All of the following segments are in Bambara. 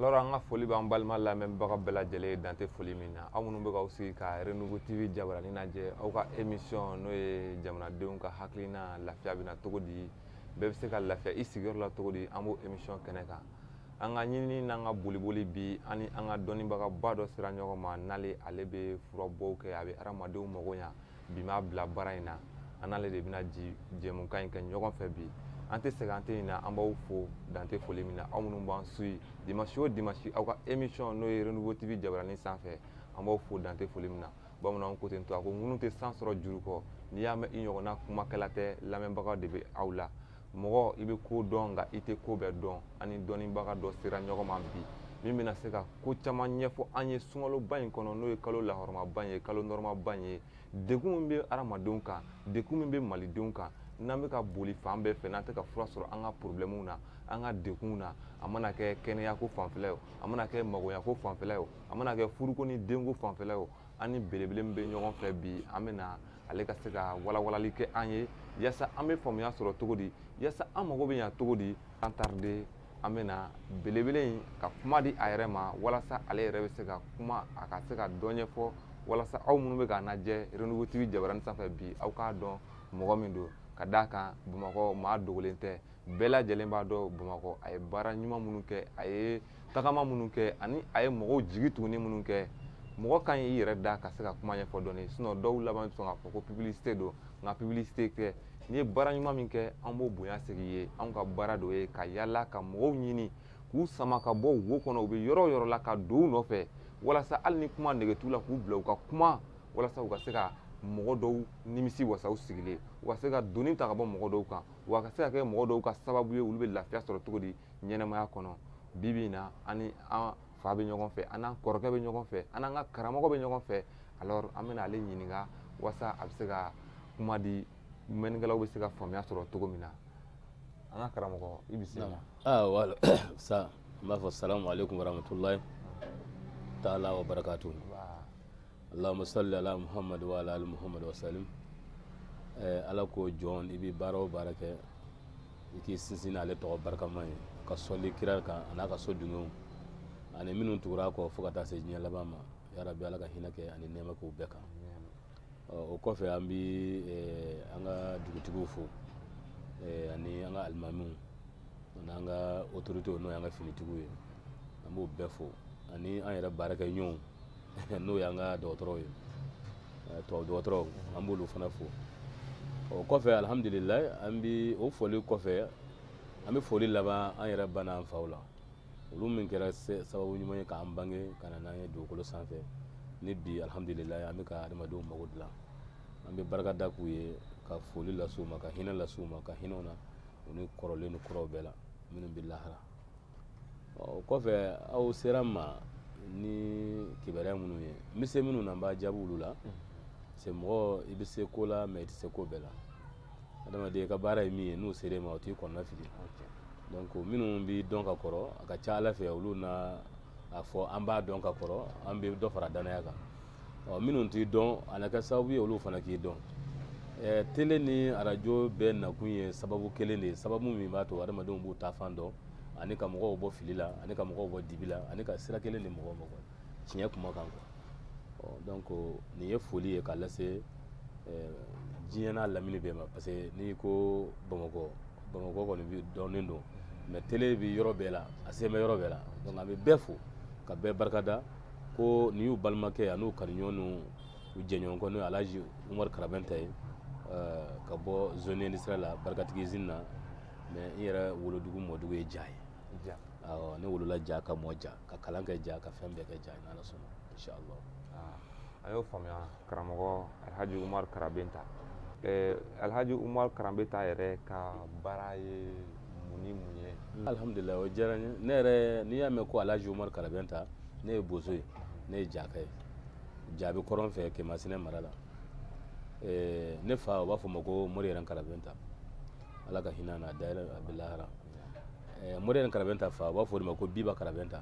alors an ka foli b'an balima lamɛnbaga bɛɛ lajɛlen ye dan tɛ foli min na aw minnu bɛ k'aw sigi ka renouveau tv jabaranin lajɛ aw ka émission n'o ye jamanadenw ka hakilina lafiya bɛ na cogo di bɛɛ bɛ se ka lafiya i sigiyɔrɔ la cogo di an b'o émission kɛnɛ kan an ka ɲinini n'an ka boliboli bi an ni an ka dɔnnibagaba dɔ sera ɲɔgɔn ma n'ale ale bɛ furabɔw kɛ a bɛ hadamadenw mago ɲa bi m'a bila baara in na an n'ale de bɛna ji jɛmukan in kɛ ɲɔgɔn fɛ bi an tɛ sɛgɛn an tɛ ɲinɛ an b'aw fo dan tɛ foli min na aw minnu b'an suyi dimansi o dimansi aw ka émission n'o ye renouveau tv jabaranin sanfɛ an b'aw fo dan tɛ foli min na bamananw ko ten to a ko ŋunu tɛ san sɔrɔ juru kɔ n'i y'a mɛn i ɲɔgɔnna kumakɛla tɛ lamɛnbagaw de bɛ aw la mɔgɔ i bɛ ko dɔn nka i tɛ ko bɛɛ dɔn an ni dɔnnibaga dɔ sera ɲɔgɔn ma bi min bɛna se ka ko caman ɲɛfɔ an ye sunkaloba in kɔnɔ n'o ye kalo lahɔrɔmaba ye kalo nɔrɔmaba ye degun min bɛ adamadenw kan degun min bɛ malidenw kan n'an bɛ ka boli fan bɛɛ fɛ n'an tɛ ka fura sɔrɔ an ka porobilɛmuw na an ka degunw na a mana kɛ kɛnɛyako fanfɛla ye o a mana kɛ magoɲako fanfɛla ye o a mana kɛ furuko ni denko fanfɛla ye o an ni belebele min bɛ ɲɔgɔn fɛ bi an bɛ na ale ka se ka walawalali kɛ an ye yaasa an bɛ faamuya sɔrɔ cogo di yaasa an mago bɛ ɲa cogo di sans tarder an bɛna belebele in ka kuma di a yɛrɛ ma walasa ale yɛrɛ bɛ se ka kuma a ka se ka dɔ ɲɛfɔ walasa aw minnu bɛ k'a lajɛ renouveau tv jabaranin sanfɛ bi aw k'a dɔn mɔgɔ min don ka d'a kan bamakɔ maa dogolen tɛ bɛɛ lajɛlen b'a dɔn bamakɔ a ye baara ɲuman minnu kɛ a ye tagama minnu kɛ ani a ye mɔgɔw jigi tuguni minnu kɛ mɔgɔ kan y'i yɛrɛ da ka se ka kuma ɲɛfɔ dɔɔni sinon dɔw laban bɛ sɔn k'a fɔ ko publicité don nka publicité tɛ n'i ye baara ɲuman min kɛ an b'o bonya segin i ye anw ka baara dɔ ye ka yaala ka mɔgɔw ɲini k'u sama ka bɔ wo kɔnɔ u bɛ yɔrɔ o yɔrɔ la ka don u nɔfɛ walasa hali ni kuma nege t'u la k'u bila u ka kuma walasa u ka se ka mɔgɔ dɔw nimisiwasa u sigilen u ka se ka doni ta ka bɔ mɔgɔ dɔw kan wa ka se ka kɛ mɔgɔ dɔw ka sababu ye olu bɛ lafiya sɔrɔ cogo di ɲɛnamaya kɔnɔ bi bi in na an ni an fa bɛ ɲɔgɔn fɛ an n'an kɔrɔkɛ bɛ ɲɔgɔn fɛ an n'an ka karamɔgɔ bɛ ɲɔgɔn fɛ alors an bɛna ale ɲininka waasa a bɛ se ka kuma di mɛnnikɛlaw bɛ se ka faamuya sɔrɔ cogo min na an ka karamɔgɔ i bisimila. aa ah, wala sa n b'a fɔ salamu aleykum warahmatulahi taala wa barakatu allahumma salli ala muhammad wa ala ali muhammad wa sallim eh, ala ko jɔn i bɛ baara o baara kɛ i k'i sinsin n'ale tɔgɔ barikama ye ka sɔli kira kan a n'a ka so dungɛw ani minnu tugur'a kɔ fo ka taa se diɲɛ laban ma yarabi ala ka hinɛ kɛ ani nɛɛma k'u bɛɛ kan o kɔfɛ an bɛ an ka dugutigiw fo ani an ka alimamiw an'an ka otoritew n'o y'an ka finitigiw ye an b'o bɛɛ fo ani an yɛrɛ baarakɛɲɔgɔnw n'o y'an ka dɔgɔtɔrɔw ye tubabu dɔgɔtɔrɔw an b'olu fana fo o kɔfɛ alihamudulila an bi o foli kɔfɛ an bɛ foli laban an yɛrɛ ba n'an faw la olu min kɛra sababu ɲuman ye k'an bange ka na n'an ye dugukolo sanfɛ ni bi alihamudulila an bɛ ka adamadenw mago dilan an bɛ barika da u ye ka foli lase u ma ka hinɛ lase u ma ka hinɛ u na u ni kɔrɔlen ni kuraw bɛɛ la minnu bɛ lahara o kɔfɛ aw sera n ma ni kibaruya minnu ye n bɛ se minnu na n b'a jaabi olu la se mɔgɔ i bɛ se ko la mɛ i tɛ se ko bɛɛ la adamaden i ka baara ye min ye n'u sera e ma o t'i kɔnɔna fili donc minnu b'i dɔn ka kɔrɔ a ka ca ala fɛ olu na a fɔ an b'a dɔn ka kɔrɔ an bɛ dɔ fara dannaya kan ɔ minnu t'i dɔn a na kɛ sababu ye olu fana k'i dɔn ɛ tele ni arajo bɛɛ nakun ye sababu kelen de ye sababu min b'a to adamadenw b'u taafan dɔn ani ka mɔgɔw bɔ fili la ani ka mɔgɔw bɔ dibi la ani ka sira kelen di mɔgɔw ma tiɲɛ kuma kan quoi ɔ donc nin ye foli ye k'a lase diɲɛ n'a lamini bɛɛ ma parce que n'i ko bamakɔ bamakɔ kɔni bi dɔnnen don mɛ tele bi yɔrɔ bɛɛ la a sen bɛ yɔrɔ bɛɛ la donc an bɛ bɛɛ fo ka bɛɛ barika da ko nin y'u balimakɛ an'u kanuɲɔgɔn n'u jɛɲɔgɔnkɛ n'o ye alaji umaru karabenta ye eh, ka bɔ zone industrielle la barikatigi usine na mais n yɛrɛ wolodugu mɔdugu ye ja ye ja awɔ ne wolola ja ka mɔ ja ka kalan kɛ ja ka fɛn bɛɛ kɛ ja n'ala sɔnna inchallah ah, a y'o faamuya karamɔgɔ alhaji umar karabenta eh, alhaji umar karabenta yɛrɛ ka baara ye mun ni mun ye hmm. alhamdulilayi o diyara n ye ne yɛrɛ n'i y'a mɛn ko alhaji umar karabenta ne ye bozo ye ne ye jaka ye ja bɛ kɔrɔn fɛ kɛmasina mara la eh, ne fa u b'a fɔ a ma ko mori yɛrɛ karabenta ala ka hinɛ a na a dayɛlɛ a bɛ lahara eh, mori yɛrɛ karabenta fa u b'a fɔ o de ma ko biba karabenta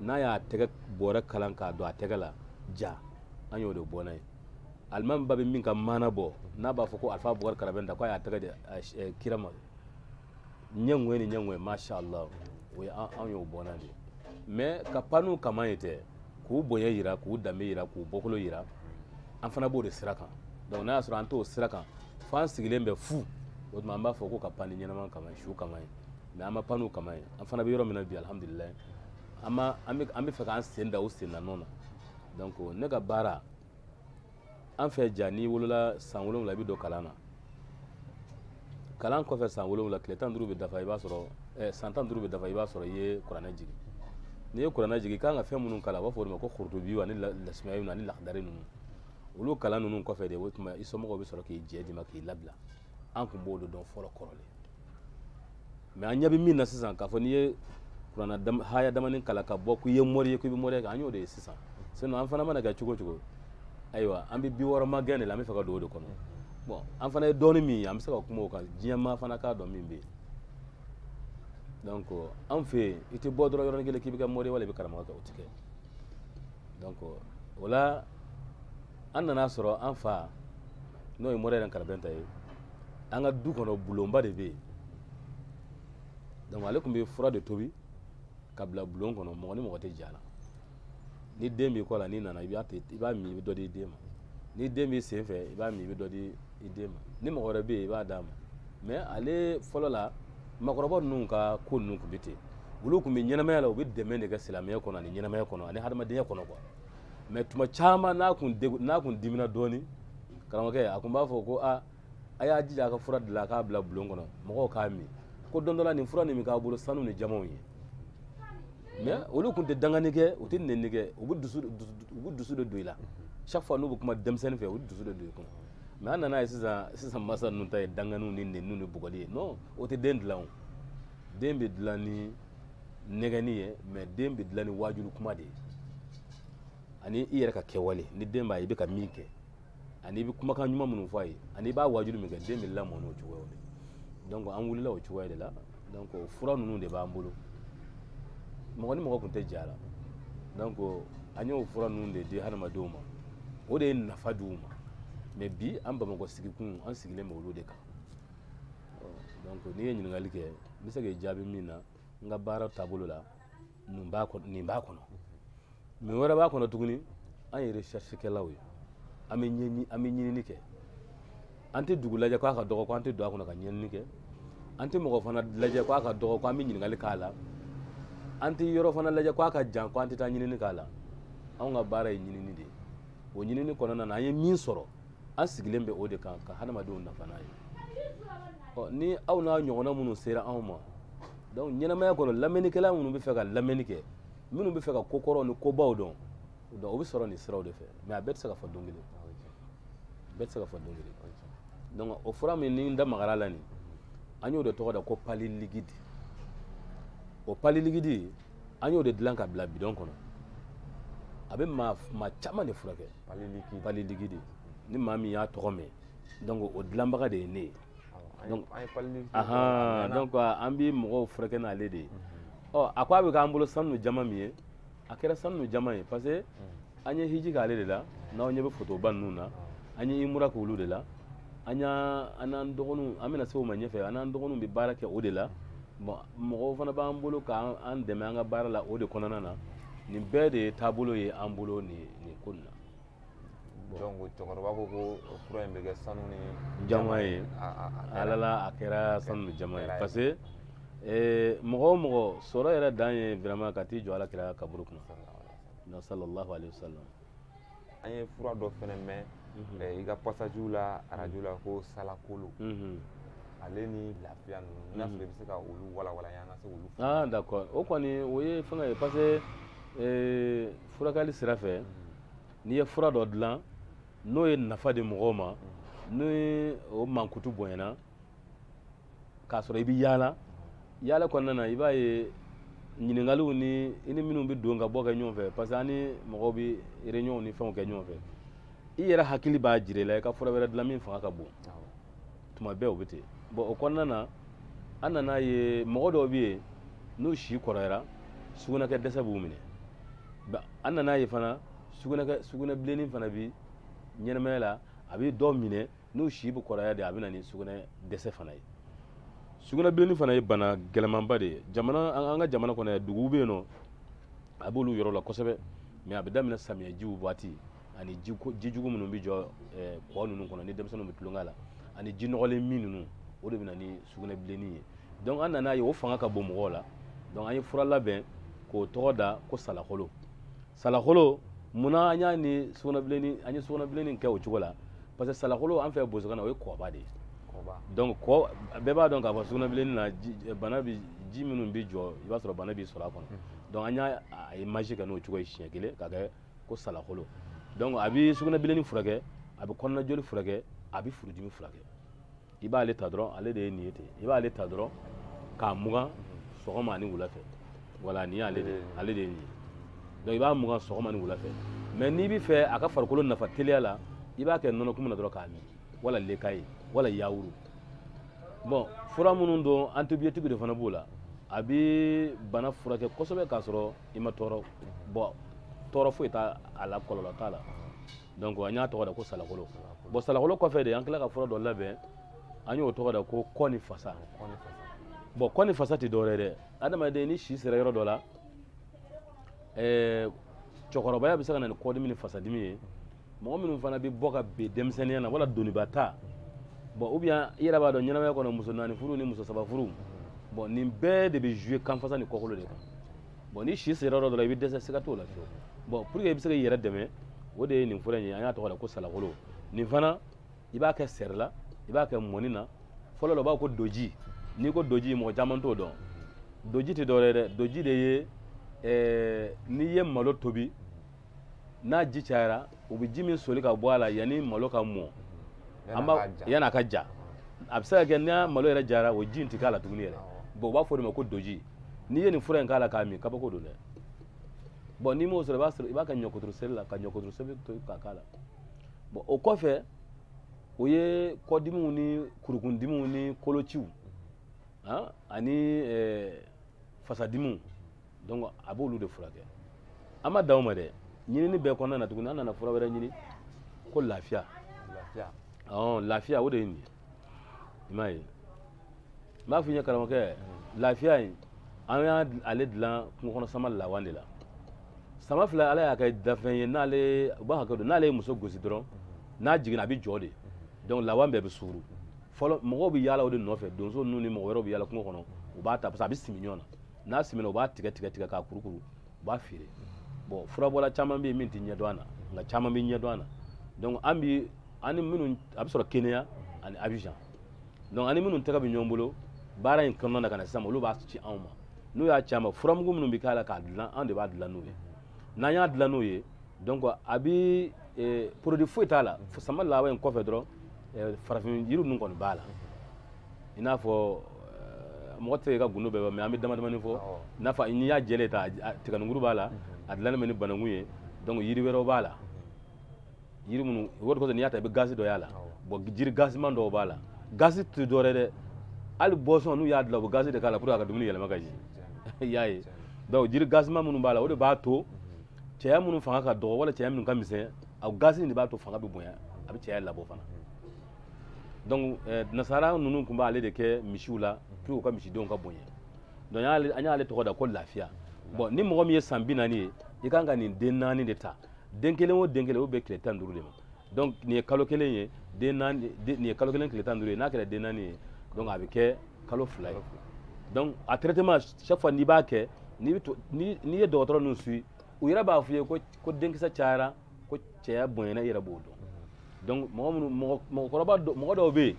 n'a y'a tɛgɛ bɔrɛ kalan k'a don a tɛgɛ la ja an y'o de bɔnna ye alimami ba bɛ min ka maana bɔ n'a b'a fɔ ko alifa bukari karabenta k'a y'a tɛgɛ di eh, kira ma ɲɛ ŋɔɛ ni ɲɛ ŋɔɛ masha allah o ye an y'o bɔnna de mais ka pan n'u kaman ye tɛ k'u bonya yira k'u danbe yira k'u bɔkolo yira an fana b'o de sira kan donc n'a y'a sɔrɔ an t'o sira kan f'an sigilen bɛ fu o tuma an b'a fɔ ko ka pan ni ɲɛnama kaman su kaman ye mɛ an ma pan n'o kaman ye an fana bɛ yɔrɔ min na bi alihamudulilayi an ma an bɛ an b'a fɛ k'an sen da o sen danɔ na donc ne ka baara an fɛ ja n'i wolola san wolonwula i bɛ don kalan na kalan kɔfɛ san wolonwula tile tan duuru bɛ dafa i b'a sɔrɔ eh, san tan duuru bɛ dafa i b'a sɔrɔ i ye kuranɛ jigin n'i ye kuranɛ jigin i kan ka fɛn minnu kalan u b'a fɔ o de ma ko korotobiw ani lasumaya ninnu ani lakidari ninnu olu kalan ninnu kɔfɛ de o tuma i somɔgɔw bɛ sɔrɔ k'i yɛrɛ d'i ma k'i labila an tun b'o de dɔn fɔlɔ kɔrɔlen mais an ɲɛ bɛ min na sisan k'a fɔ n'i ye kuranɛ haya damanin kalan ka bɔ k'i ye mɔri ye k'i bɛ mɔri kɛ an y'o de ye sisan sinon an fana mana kɛ cogo o cogo ayiwa an bɛ bi wɔɔrɔ magɛn de la an bɛ fɛ ka don o de kɔnɔ bon an fana ye dɔɔni min ye an bɛ se ka kuma o kan diɲɛ maa fana k'a dɔn min bɛ yen donc an fɛ yen i tɛ bɔ dɔrɔn yɔrɔnin kelen k'i bɛ kɛ mɔri ye wala i bɛ karamɔgɔ kɛ o tɛ kɛ donc o la an nana sɔrɔ an fa n'o ye mɔri yɛrɛ karabɛnta ye an ka du kɔnɔ bulonba de bɛ yen donc ale tun bɛ fura de tobi ka bila bulon kɔnɔ mɔgɔ ni mɔgɔ tɛ jɛ a la ni den b'i kɔ la n'i nana i b'a i b'a min i bɛ dɔ di i den ma ni den b'i sen fɛ i b'a min i bɛ dɔ di i den ma ni mɔgɔ wɛrɛ bɛ yen i b'a d'a ma mais ale fɔlɔ la maakɔrɔba ninnu ka ko ninnu tun bɛ ten olu tun bɛ ɲɛnamaya la u bɛ dɛmɛ de kɛ silamɛya kɔnɔ ani ɲɛnamaya kɔnɔ ani hadamadenya kɔnɔ quoi mais tuma caman n'a kun degu n'a kun dimina dɔɔni karamɔgɔkɛ a kun b'a fɔ ko a a y'a jija a ka fura dilan a k'a bila bulon kɔnɔ mɔgɔw k'a min ko don dɔ la nin fura nin bɛna k'a bolo sanu ni jaman ye mais olu kun tɛ dangani kɛ u tɛ nɛni kɛ u bɛ dusu u bɛ dusu de don i la chaque fois n'u bɛ kuma denmisɛnnin fɛ u bɛ dusu de don i kɔnɔ mais an nana ye sisan sisan masa ninnu ta ye danganiw ni nɛniw ni bugɔli ye non o tɛ den dilan o den bɛ dilan ni nɛgɛni ye mais den bɛ dilan ni waajuli kuma de ye ani i yɛrɛ ka kɛwale ni den b'a ye i bɛ ka min kɛ ani i bɛ kumakan ɲuman minnu fɔ a ye ani i b'a waajuli min kɛ den bɛ lamɔ n'o cogoyaw de donc an wulila o cogoya de la donc o fura ninnu de b'an bolo mɔgɔ ni mɔgɔ tun tɛ j'a la donc an y'o fura ninnu de di hadamadenw ma o de ye nafa di u ma mais bi an bamakɔ sigikun an sigilen bɛ olu de kan donc n'i ye ɲininkali kɛ n bɛ se k'i jaabi min na n ka baara taabolo la nin b'a kɔnɔ nin b'a kɔnɔ min wɛrɛ b'a kɔnɔ tuguni an ye recherche kɛlaw ye an bɛ ɲɛɲini an bɛ ɲinini kɛ an tɛ dugu lajɛ k'a ka dɔgɔ ko an tɛ don a kɔnɔ ka ɲɛɲini kɛ an tɛ mɔgɔ fana lajɛ k'a ka dɔgɔ ko an tɛ ɲininkali k'a la an tɛ yɔrɔ fana lajɛ k'a ka jan ko an tɛ taa ɲinini k'a la anw ka baara ye ɲinini de ye o ɲinini kɔnɔna na an ye min sɔrɔ an sigilen bɛ o de kan ka hadamadenw nafa n'a ye ɔ ni aw n'a ɲɔgɔnna minnu sera anw ma donc ɲɛnamaya kɔnɔ lamɛnnikɛla minnu bɛ fɛ ka lamɛnni kɛ minnu bɛ fɛ ka ko kɔrɔw ni kobaw dɔn donc o bɛ sɔrɔ nin siraw de fɛ mais a bɛɛ tɛ se ka fɔ don kelen bɛɛ tɛ se ka fɔ don kelen donc o fura min ni n da magara a la nin an y'o de tɔgɔ da ko palu liquide o palu liquide an y'o de dilan ka bila bidɔn kɔnɔ a bɛ maa maa caman de furakɛ palu liquide ni maa min y'a tɔgɔ mɛn donc o dilanbaga de ye ne ye donc an bɛ mɔgɔw furakɛ n'ale de ye mhm. ɔ a ko a bɛ k'an bolo sanu jaman min ye a kɛra sanu jaman ye parce que mhm. an ye hiji k'ale de la n'aw ɲɛ bɛ fotoba ninnu na an ye imura k'olu de la an y'a an n'an dɔgɔninw an bɛna se o ma ɲɛfɛ an n'an dɔgɔninw bɛ baara kɛ o de la bon mɔgɔw fana b'an bolo k'an dɛmɛ an ka baara la o de kɔnɔna na nin bɛɛ de ye taabolo ye an bolo nin ye nin ko in na donc cɛkɔrɔba ko ko fura in bɛ kɛ sanu ni jaman ye alala a kɛra sanu ni jaman ye parce que eh, mɔgɔ o mɔgɔ sɔrɔ yɛrɛ dan ye vraiment ka t'i jɔ ala kira kaburu kunna na sallallahu alaihi wasallam an ye fura dɔ fɛnɛ mɛn mhm. eh, i ka pasajiw la arajo la ko salakolo mhm. ale ni lafiya ninnu n'a mhm. sɔrɔ i bɛ se ka olu walawala an ka se k'olu ah d'accord o kɔni o ye fɛngɛ ye parce que eh, furakɛli sira fɛ n'i ye fura dɔ dilan n'o ye nafa di mɔgɔw ma ni o mankutu bonyana k'a sɔrɔ i bɛ yaala yaala kɔnɔna na i b'a ye ɲininkaliw ni i ni minnu bɛ don ka bɔ kɛ ɲɔgɔn fɛ parce que an ni mɔgɔw bɛ réunion ni fɛnw kɛ ɲɔgɔn fɛ i yɛrɛ hakili b'a jira i la i ka fura wɛrɛ dilan min fanga ka bon tuma bɛɛ o bɛ ten bon o kɔnɔna na an nana ye mɔgɔ dɔw bɛ yen n'u si kɔrɔyara sugunɛkɛ dɛsɛ b'u minɛ an nana ye fana sugunɛkɛ sugunɛbilenni fana bi ɲɛnamaya la a bɛ dɔw minɛ n'u si bɛ kɔrɔya de a bɛ na ni sugunɛ dɛsɛ fana ye sugunɛbilenni fana ye bana gɛlɛmanba de ye jamana an ka jamana kɔnɔ yan duguw bɛ yen nɔ a b'olu yɔrɔ la kosɛbɛ mɛ a bɛ daminɛ samiyɛjiw waati ani ji jugu minnu bɛ jɔ eh, kɔ ninnu kɔnɔ ni denmisɛnninw bɛ tulonkɛ la ani ji nɔgɔlen min ninnu o de bɛ na ni sugunɛbilenni ye donc an nana ye o fanga ka bon mɔgɔw la donc an ye fura labɛn k'o tɔgɔ da ko salakolo salakolo munna an y'a ni sugunɛbilenni an ye sugunɛbilenni kɛ o cogo la parce que salakolo an fɛ bozokan na o ye kɔba de ye donc kɔ bɛɛ b'a dɔn k'a fɔ sugunɛbilenni na eh, bana bi ji minnu bɛ jɔ i b'a sɔrɔ bana b'i sɔrɔ a kɔnɔ donc an y'a image kɛ n'o cogo ye siɲɛ kelen ka kɛ ko salakolo donc a bɛ sugunɛbilenni furakɛ a bɛ kɔnɔnajoli furakɛ a bɛ furudimi furakɛ i b'ale ta dɔrɔn ale de ye nin ye ten i b'ale ta dɔrɔn k'a mugan sɔgɔma ani wula fɛ wala nin y'ale de ale de ye nin ye donc i b'a mugan sɔgɔma ni wula fɛ mɛ n'i bɛ fɛ a ka farikolo nafa teliya la i b'a kɛ nɔnɔkumu na dɔrɔn k'a min wala lait caillé wala yawuru bon fura minnu don antibiyotiki de fana b'o la a bɛ bana furakɛ kosɛbɛ k'a sɔrɔ i ma tɔɔrɔ bon tɔɔrɔ foyi t'a la kɔlɔlɔ t'a la donc an y'a tɔgɔ da ko salakolo bon salakolo kɔfɛ de an tila ka fura dɔ labɛn an y'o tɔgɔ da ko kɔ ni fasa bon kɔ ni fasa tɛ dɔwɛrɛ dɛ adamaden ni si sera yɔrɔ dɔ la ɛɛ cɛkɔrɔbaya bɛ se ka na ni kɔdimi ni fasadimi ye mɔgɔ minnu fana bɛ bɔ ka bin denmisɛnninya na wala doniba ta bɔn ou bien i yɛrɛ b'a dɔn ɲɛnamaya kɔnɔ muso naani furu ni muso saba furu bɔn nin bɛɛ de bɛ jouer kanfasa ni kɔkolo de kan bɔn ni si sera yɔrɔ dɔ la i bɛ dɛsɛ siga t'o la fiyewu bɔn pour que i bɛ se k'i yɛrɛ dɛmɛ o de ye nin fura in ye an y'a tɔgɔ da ko salakolo nin fana i b'a kɛ seri la i b'a kɛ mɔni na fɔlɔ la u b'a ko doji n'i ko doji mɔgɔ caman t'o dɔn doji tɛ dɔwɛrɛ ye dɛ doji de ye ɛɛ n'i ye malo tobi n'a ji cayara u bɛ ji min soli ka bɔ a la yanni malo ka mɔ yanni a ka ja a bɛ se ka kɛ n'a malo yɛrɛ jara o ji in tɛ k'a la tuguni yɛrɛ bɔn u b'a fɔ o de ma ko doji n'i ye nin fura in k'a la k'a min kabako don dɛ bɔn n'i m'o sɔrɔ i b'a sɔrɔ i b'a kɛ ɲɔkuturu seri la ka ɲɔkuturu seri to ka k'a la bɔn o kɔfɛ o ye kɔdimiw ni kurukundimiw ni kolociw ani fasadimiw donc a b'olu de furakɛ an ma dan o ma dɛ ɲinini bɛɛ kɔnɔna na tuguni an nana fura wɛrɛ ɲini ko lafiya ɔn lafiya o de ye nin ye i m'a ye n b'a f'i ye karamɔgɔkɛ lafiya in an y'ale dilan kungo kɔnɔ sama lawa de la sama fila ala y'a kɛ dafɛn ye n'ale u b'a hakɛ dɔn n'ale ye muso gosi dɔrɔn n'a jiginna a bɛ jɔ de donc lawa bɛɛ bɛ suuru fɔlɔ mɔgɔw bɛ yaala o de nɔfɛ donso ninnu ni mɔgɔ wɛrɛw bɛ yaala kungo kɔnɔ u b'a ta parce que a bɛ simi ɲɔgɔn na n'a simina u b'a tigɛ tigɛ tigɛ k'a kurukuru u b'a feere bɔn furabɔla caman bɛ yen min tɛ ɲɛdɔn a na nka caman bɛ ɲɛdɔn a na donc an bi an ni minnu a bɛ sɔrɔ kenya ani abijan donc an ni minnu tɛgɛ bɛ ɲɔgɔn bolo baara in kɔnɔna na ka na sisan olu b'a ci anw ma n'u y'a ci an ma furamugu minnu bɛ k'a la k'a dilan an de b'a dilan n'u ye n'an y'a dilan n'u ye donc a bɛ eh, produit foyi t'a la sama lawa in kɔfɛ dɔrɔn eh, farafin yiri ninnu kɔni b'a la i n'a fɔ eh, mɔgɔ tɛ ka gundo bɛɛ mɛ an bɛ damadamani fɔ n'a fɔ n'i y'a jɛlen ta tiganinkuru b'a la mhm. a dilannen bɛ ni bananku ye donc yiri wɛrɛw b'a la mhm. yiri minnu o de kosɔn n'i y'a ta i bɛ gazi dɔ y'a la bɔn jiri gaziman dɔw b'a la gazi tɛ dɔ wɛrɛ dɛ hali boisson n'u y'a dilan u bɛ gazi de k'a la pour que a ka dumuni yɛlɛma ka jigin i y'a ye donc jiri gaziman minnu b'a la o de b'a to mhm. cɛya minnu fanga ka dɔgɔ wala cɛya minnu ka misɛn a gazi de b'a to fanga bɛ bonya a bɛ cɛya labɔ fana donc eh, nasara ninnu tun b'ale de kɛ misiw la pour u ka misidenw ka bonya donc an y'ale tɔgɔ da ko lafiya bon ni mɔgɔ min ye san bi naani ye i kan ka nin den naani de ta den kelen o den kelen o bɛ tile tan duuru de ma donc nin ye kalo kelen ye den naani nin ye kalo kelen tile tan duuru ye n'a kɛra den naani ye donc a bɛ kɛ kalo fila ye donc a traitement chaque fois n'i b'a kɛ n'i ye dɔgɔtɔrɔ ninnu suivre u yɛrɛ b'a f'i ye ko denkisɛ cayara ko cɛya bonyana i yɛrɛ b'o dɔn donc mɔgɔ minnu mɔgɔ mɔgɔkɔrɔba mɔgɔ dɔw bɛ yen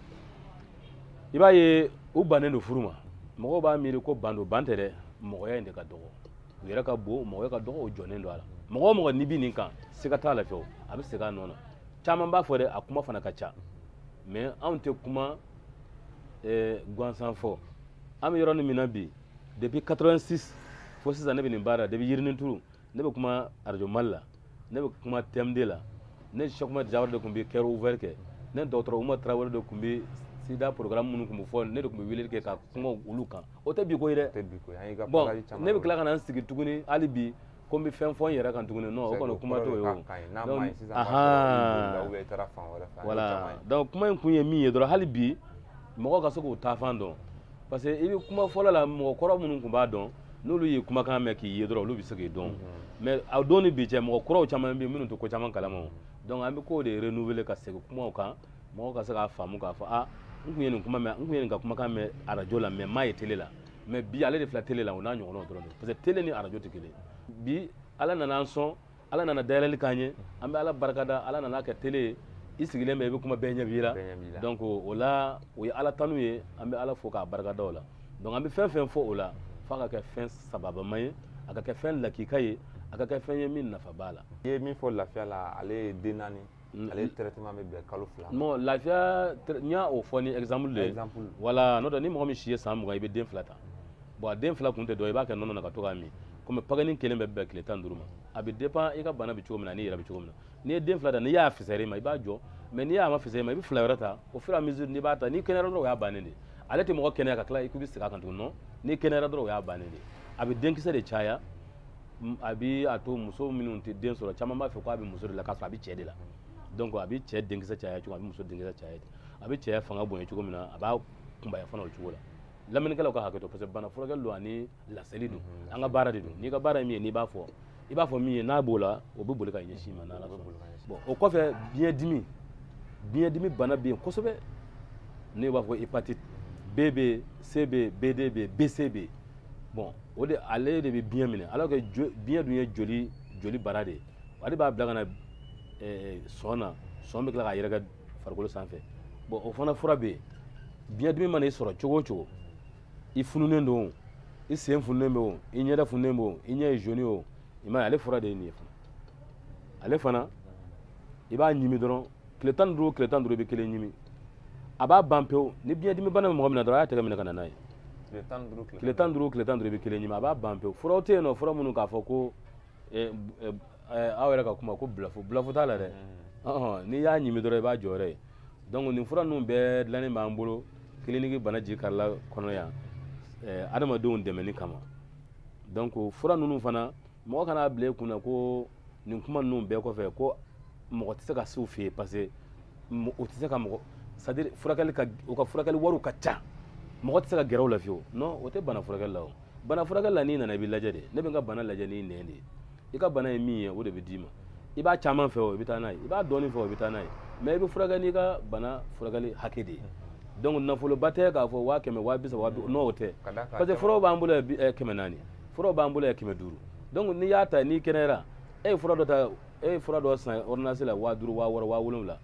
i b'a ye u bannen don furu ma mɔgɔw b'a miiri ko ban don ban tɛ dɛ mɔgɔya in de ka dɔgɔ u yɛrɛ ka bon mɔgɔya ka dɔgɔ o jɔnnen don a la mɔgɔ o mɔgɔ n'i bɛ nin kan siga t'a la fiyewu a bɛ segin a nɔ na caman b'a fɔ dɛ a kuma fana ka ca mais anw tɛ kuma eh, gansan fɔ an bɛ yɔrɔ min na bi depuis 86 fo sisan ne bɛ nin baara depuis yirininturu ne bɛ kuma arajo mali la ne bɛ kuma tm2 la ne sɛkuma jawara de tun bɛ kɛra ouvɛri kɛ ne dɔgɔtɔrɔ uma tarawele de tun bɛ sida programme minnu tun bɛ fɔ ne de tun bɛ weleli kɛ ka kuma olu kan o tɛ bi ko ye dɛ bon ne bɛ tila ka na n sigi tuguni hali bi ko n bɛ fɛn fɔ n yɛrɛ kan tuguni non o kɔni kuma t'o ye voilà donc kuma in kun ye min ye dɔrɔn hali bi mɔgɔ ka se k'u taafan dɔn parce que i bɛ kuma fɔlɔ la mɔgɔ kɔrɔ minnu tun b'a dɔn n'olu ye kumakan mɛn k'i ye dɔrɔn olu bɛ se k'i dɔn mhm. mais a don ni bi cɛ mɔgɔ kuraw caman bɛ yen minnu tɛ ko caman kalama o donc an bɛ k'o de renouveler ka segin kumaw kan mɔgɔw ka se k'a faamu k'a fɔ a n tun ye nin kuma mɛn n tun ye nin ka kumakan mɛn arajo la mais n m'a ye tele la mais bi ale de filɛ tele la o n'a ɲɔgɔnnaw dɔrɔn de parce que tele ni arajo tɛ kelen bi ala nana an sɔn ala nana dayɛlɛli k'an ye an bɛ ala barikada ala nana kɛ tele ye i sigilen bɛ i bɛ kuma bɛɛ ɲɛ b'i la donc o la o ye ala tanu ye an bɛ ala fo k'a barikada o la donc an bɛ fɛn fɛn fɔ o la f'a ka kɛ fɛn sababama ye a ka kɛ fɛn lakika ye a ka kɛ fɛn ye min nafa b'a la i ye min fɔ lafiya la ale ye den naani Mm-hmm. ale traitement bɛ bɛn kalo fila non lafiya n y'o fɔ ni exemple de ye wala n'o tɛ ni mɔgɔ min si ye san mugan i bɛ den fila ta bon a den fila kun tɛ dɔ i b'a kɛ nɔnɔ na ka to k'a min komi pakɛnin kelen bɛ bɛn tile tan ni duuru ma a bɛ dépend i ka bana bɛ cogo min na n'i yɛrɛ bɛ cogo min na n'i ye den fila ta n'i y'a fisayara i ma i b'a jɔ mais n'i y'a ma fisayara i ma i bɛ fila wɛrɛ ta au fur et à mesure n'i b'a ta n'i kɛnɛyara dɔrɔn o y'a bannen de ye ale tɛ mɔgɔ kɛnɛya ka tila i k'i bɛ segin a kan tuguni non n'i kɛnɛyara dɔrɔn o y'a bannen de ye a bɛ denkisɛ de caya a bɛ a to muso minnu tɛ den sɔrɔ caman b'a fɔ k'a bɛ muso de la k'a sɔrɔ a bɛ cɛ de la donc a bɛ cɛ denkisɛ caya cogo a bɛ muso denkisɛ caya ten a bɛ cɛya fanga bonya cogo min na a b'a kunbaya fana o cogo la lamɛnnikɛlaw ka hakɛ to parce que bana furakɛli don ani laseli don mhm. an ka baara de don n'i ka baara ye min ye n'i b'a fɔ i b'a fɔ min ye n'a b'o la o bɛ boli ka ɲɛsin ma n'ala sɔnna bon o kɔfɛ biɲɛdimi biɲɛdimi bana bɛ yen kosɛbɛ n'u b'a fɔ hépatite b bɛ yen c bɛ yen bd bɛ yen bc bɛ yen bon o de ale de bɛ biɲɛ minɛ alors que biɲɛ dun ye joli joli bara de ye ale b'a bila ka na eh, sɔn na sɔn bɛ tila k'a yɛrɛkɛ farikolo sanfɛ bon o fana fura bɛ yen biɲɛ dimi mana i sɔrɔ cogo o cogo i fununen don o i sen fununen bɛ o i ɲɛda fununen bɛ o i ɲɛ ye jaune o i m'a ye ale fura de ye nin ye fana ale fana i b'a ɲimi dɔrɔn tile tan ni duuru tile tan duuru i bɛ kelen ɲimi a b'a ban pewu ni biɲɛdimi bana bɛ mɔgɔ min na dɔrɔn a y'a tɛgɛ minɛ ka na n'a ye tile tan ni duuru tile tan duuru i bɛ kelen ɲimi a b'a ban pewu furaw tɛ yen non fura minnu k'a fɔ ko eh, eh, eh, aw yɛrɛ ka kuma ko bulafo bulafo t'a la dɛ mm-hmm. n'i y'a ɲimi dɔrɔn i b'a jɔyɔrɔ ye donc nin fura ninnu bɛɛ dilannen b'an bolo kiliniki bana ji karila kɔnɔ yan adamadenw dɛmɛni kama donc fura ninnu fana mɔgɔ kan'a bila i kun na ko nin kuma ninnu bɛɛ kɔfɛ ko mɔgɔ tɛ se ka se u fɛ yen parce que u tɛ se ka mɔgɔ c'est à dire furakɛli ka u ka furakɛli wariw ka ca mɔgɔ tɛ se ka gɛrɛ u la fiyewu non o tɛ bana furakɛli la o bana furakɛli la n'i nana i b'i lajɛ de ne bɛ n ka bana lajɛ n'i nɛn de ye i ka bana ye min ye o de bɛ d'i ma i b'a caman fɛ o i bɛ taa n'a ye i b'a dɔɔnin fɛ o i bɛ taa n'a ye mɛ i bɛ furakɛ n'i ka bana furakɛli hakɛ de ye donc nafoloba tɛ k'a fɔ waa kɛmɛ waa bi saba waa bi non o tɛ parce que furaw b'an bolo yan kɛmɛ naani furaw b'an bolo yan kɛmɛ duuru donc n'i y'a ta n'i kɛnɛyara e ye fura dɔ ta e ye fura dɔ san ordonnance la waa duuru waa wɔɔrɔ waa wolonwula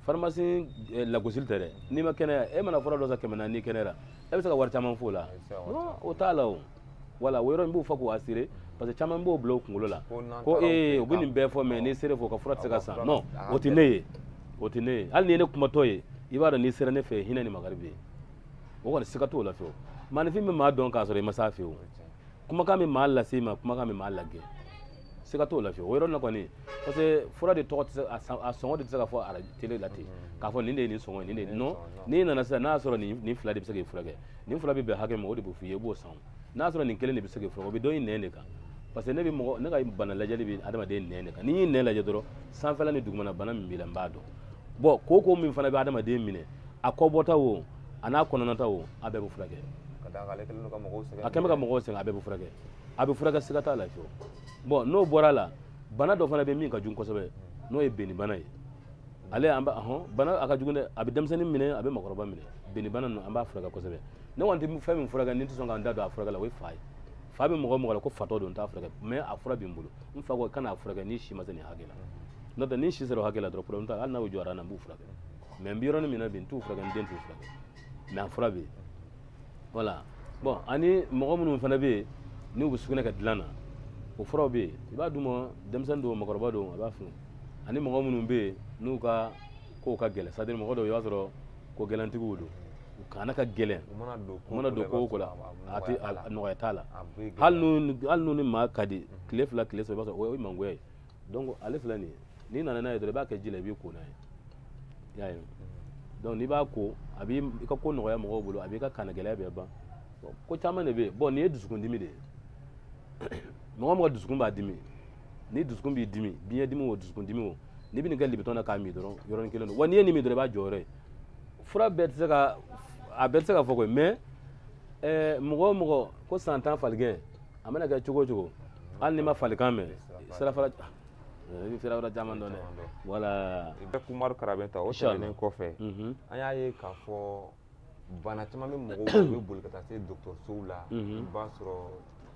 pharmacie eh, lagosili tɛ dɛ n'i ma kɛnɛya e mana fura dɔ san kɛmɛ naani n'i kɛnɛyara e bɛ se ka wari caman f'o la non o t'a la o voilà o yɔrɔ in n b'o fɔ k'o assurer parce que caman b'o bila o kunkolo la ko ee u bɛ nin bɛɛ fɔ mɛ n'i sera u fɛ u ka fura tɛ se ka san non o tɛ ne ye o tɛ ne ye hali n'i ye ne kumatɔ ye i b'a dɔn n'i sera ne fɛ hinɛ ni makari bɛ yen o kɔni siga t'o la fiyewu maanifin bɛ maa dɔn k'a sɔrɔ i ma s'a fɛ o kumakan bɛ maa lase i ma kumakan bɛ maa lagɛn siga t'o la fiyewu o yɔrɔ la kɔni parce que fura de tɔgɔ tɛ se a sɔngɔ de tɛ se ka fɔ ara tele la ten k'a fɔ nin de ye nin sɔngɔ ye nin de ye non n'i nana sisan n'a y'a sɔrɔ nin nin fila de bɛ se k'i furakɛ nin fila bɛ bɛn hakɛ ma o de bɛ f'i ye i b'o san n'a sɔrɔ nin kelen de bɛ se k'i furakɛ o bɛ dɔn i nɛn de kan parce que ne bɛ mɔgɔ ne ka bana lajɛli bɛ adamaden nɛn de kan ni n y'i nɛn lajɛ dɔrɔn sanfɛla ni dugumana bana min b'i la n b'a dɔn bon kooko min fana bɛ adamaden minɛ a kɔbɔta o an'a kɔnɔnata o a bɛɛ bɛ furakɛ a kɛlen bɛ ka mɔgɔw sɛgɛn a bɛɛ bɛ furakɛ a bɛ furakɛ siga t'a la fiyewu bon n'o bɔra a la bana dɔ fana bɛ min ka jugu kosɛbɛ n'o ye binni bana ye ale an b'a dɔn bana a ka jugu dɛ a bɛ denmisɛnnin minɛ a bɛ mɔgɔkɔrɔba minɛ binni bana ninnu an b'a furakɛ kosɛbɛ ne kɔni tɛ fɛn min furakɛ ne tɛ sɔn ka n da don a furakɛ la o ye fa ye fa bɛ mɔgɔ mɔgɔ la ko fatɔ don n t'a furakɛ mɛ a fura bɛ n bolo n fa ko kana a furakɛ n'i si ma se nin hakɛ la n'o tɛ n'i si sera o hakɛ la dɔrɔn problème t'a la hali n'a y'o jɔra n na n b'u furakɛ mɛ n bɛ yɔrɔnin min na bi n t'u furakɛ n den t'u furakɛ mɛ a fura bɛ yen voilà bon ani mɔgɔ minnu fana bɛ yen n'u bɛ sugunɛ kɛ dilan na o furaw bɛ yen i b'a d'u ma denmisɛnnin don mɔgɔkɔrɔba don a b'a funu ani mɔgɔ minnu bɛ yen n'u ka kow ka gɛlɛn c'est à dire mɔgɔ dɔw i b'a sɔrɔ ko gɛlɛntigiw don u kana ka gɛlɛn u mana don ko mana don ko o ko la a tɛ a nɔgɔya t'a la hali n'u hali n'u ni maa ka di tile fila tile saba i b'a sɔrɔ o ye mangoya ye donc ale filɛ nin ye n'i nana n'a ye dɔrɔn i b'a kɛ ji la i b'i ko n'a ye i y'a ye donc n'i b'a ko a b'i i ka ko nɔgɔya mɔgɔw bolo a b'i ka kana gɛlɛya bɛɛ ban ko caman de bɛ yen bɔn nin ye dusukundimi de ye mɔgɔ o mɔgɔ dusukun b'a dimi ni dusukun b'i dimi biɲɛ dimi o dusukun dimi o n'i bɛ nin kɛ libitɔn na k'a min dɔrɔn yɔrɔnin kelen don wa n'i ye nin min dɔrɔn i b'a jɔyɔrɔ ye fura bɛɛ tɛ se ka a bɛɛ tɛ se ka fɔ koyi mais ɛɛ mɔgɔ o mɔgɔ ko san tan faligɛn a mana kɛ cogo o cogo hali n'i ma falikan mɛn sirafara i bɛ sirafara caman dɔn dɛ wala. i bɛ umaru karabɛnta o tɛmɛnen kɔfɛ an y'a ye k'a fɔ. bana caman bɛ mɔgɔw u bɛ boli ka taa se dɔgɔtɔrɔsow la i b'a sɔrɔ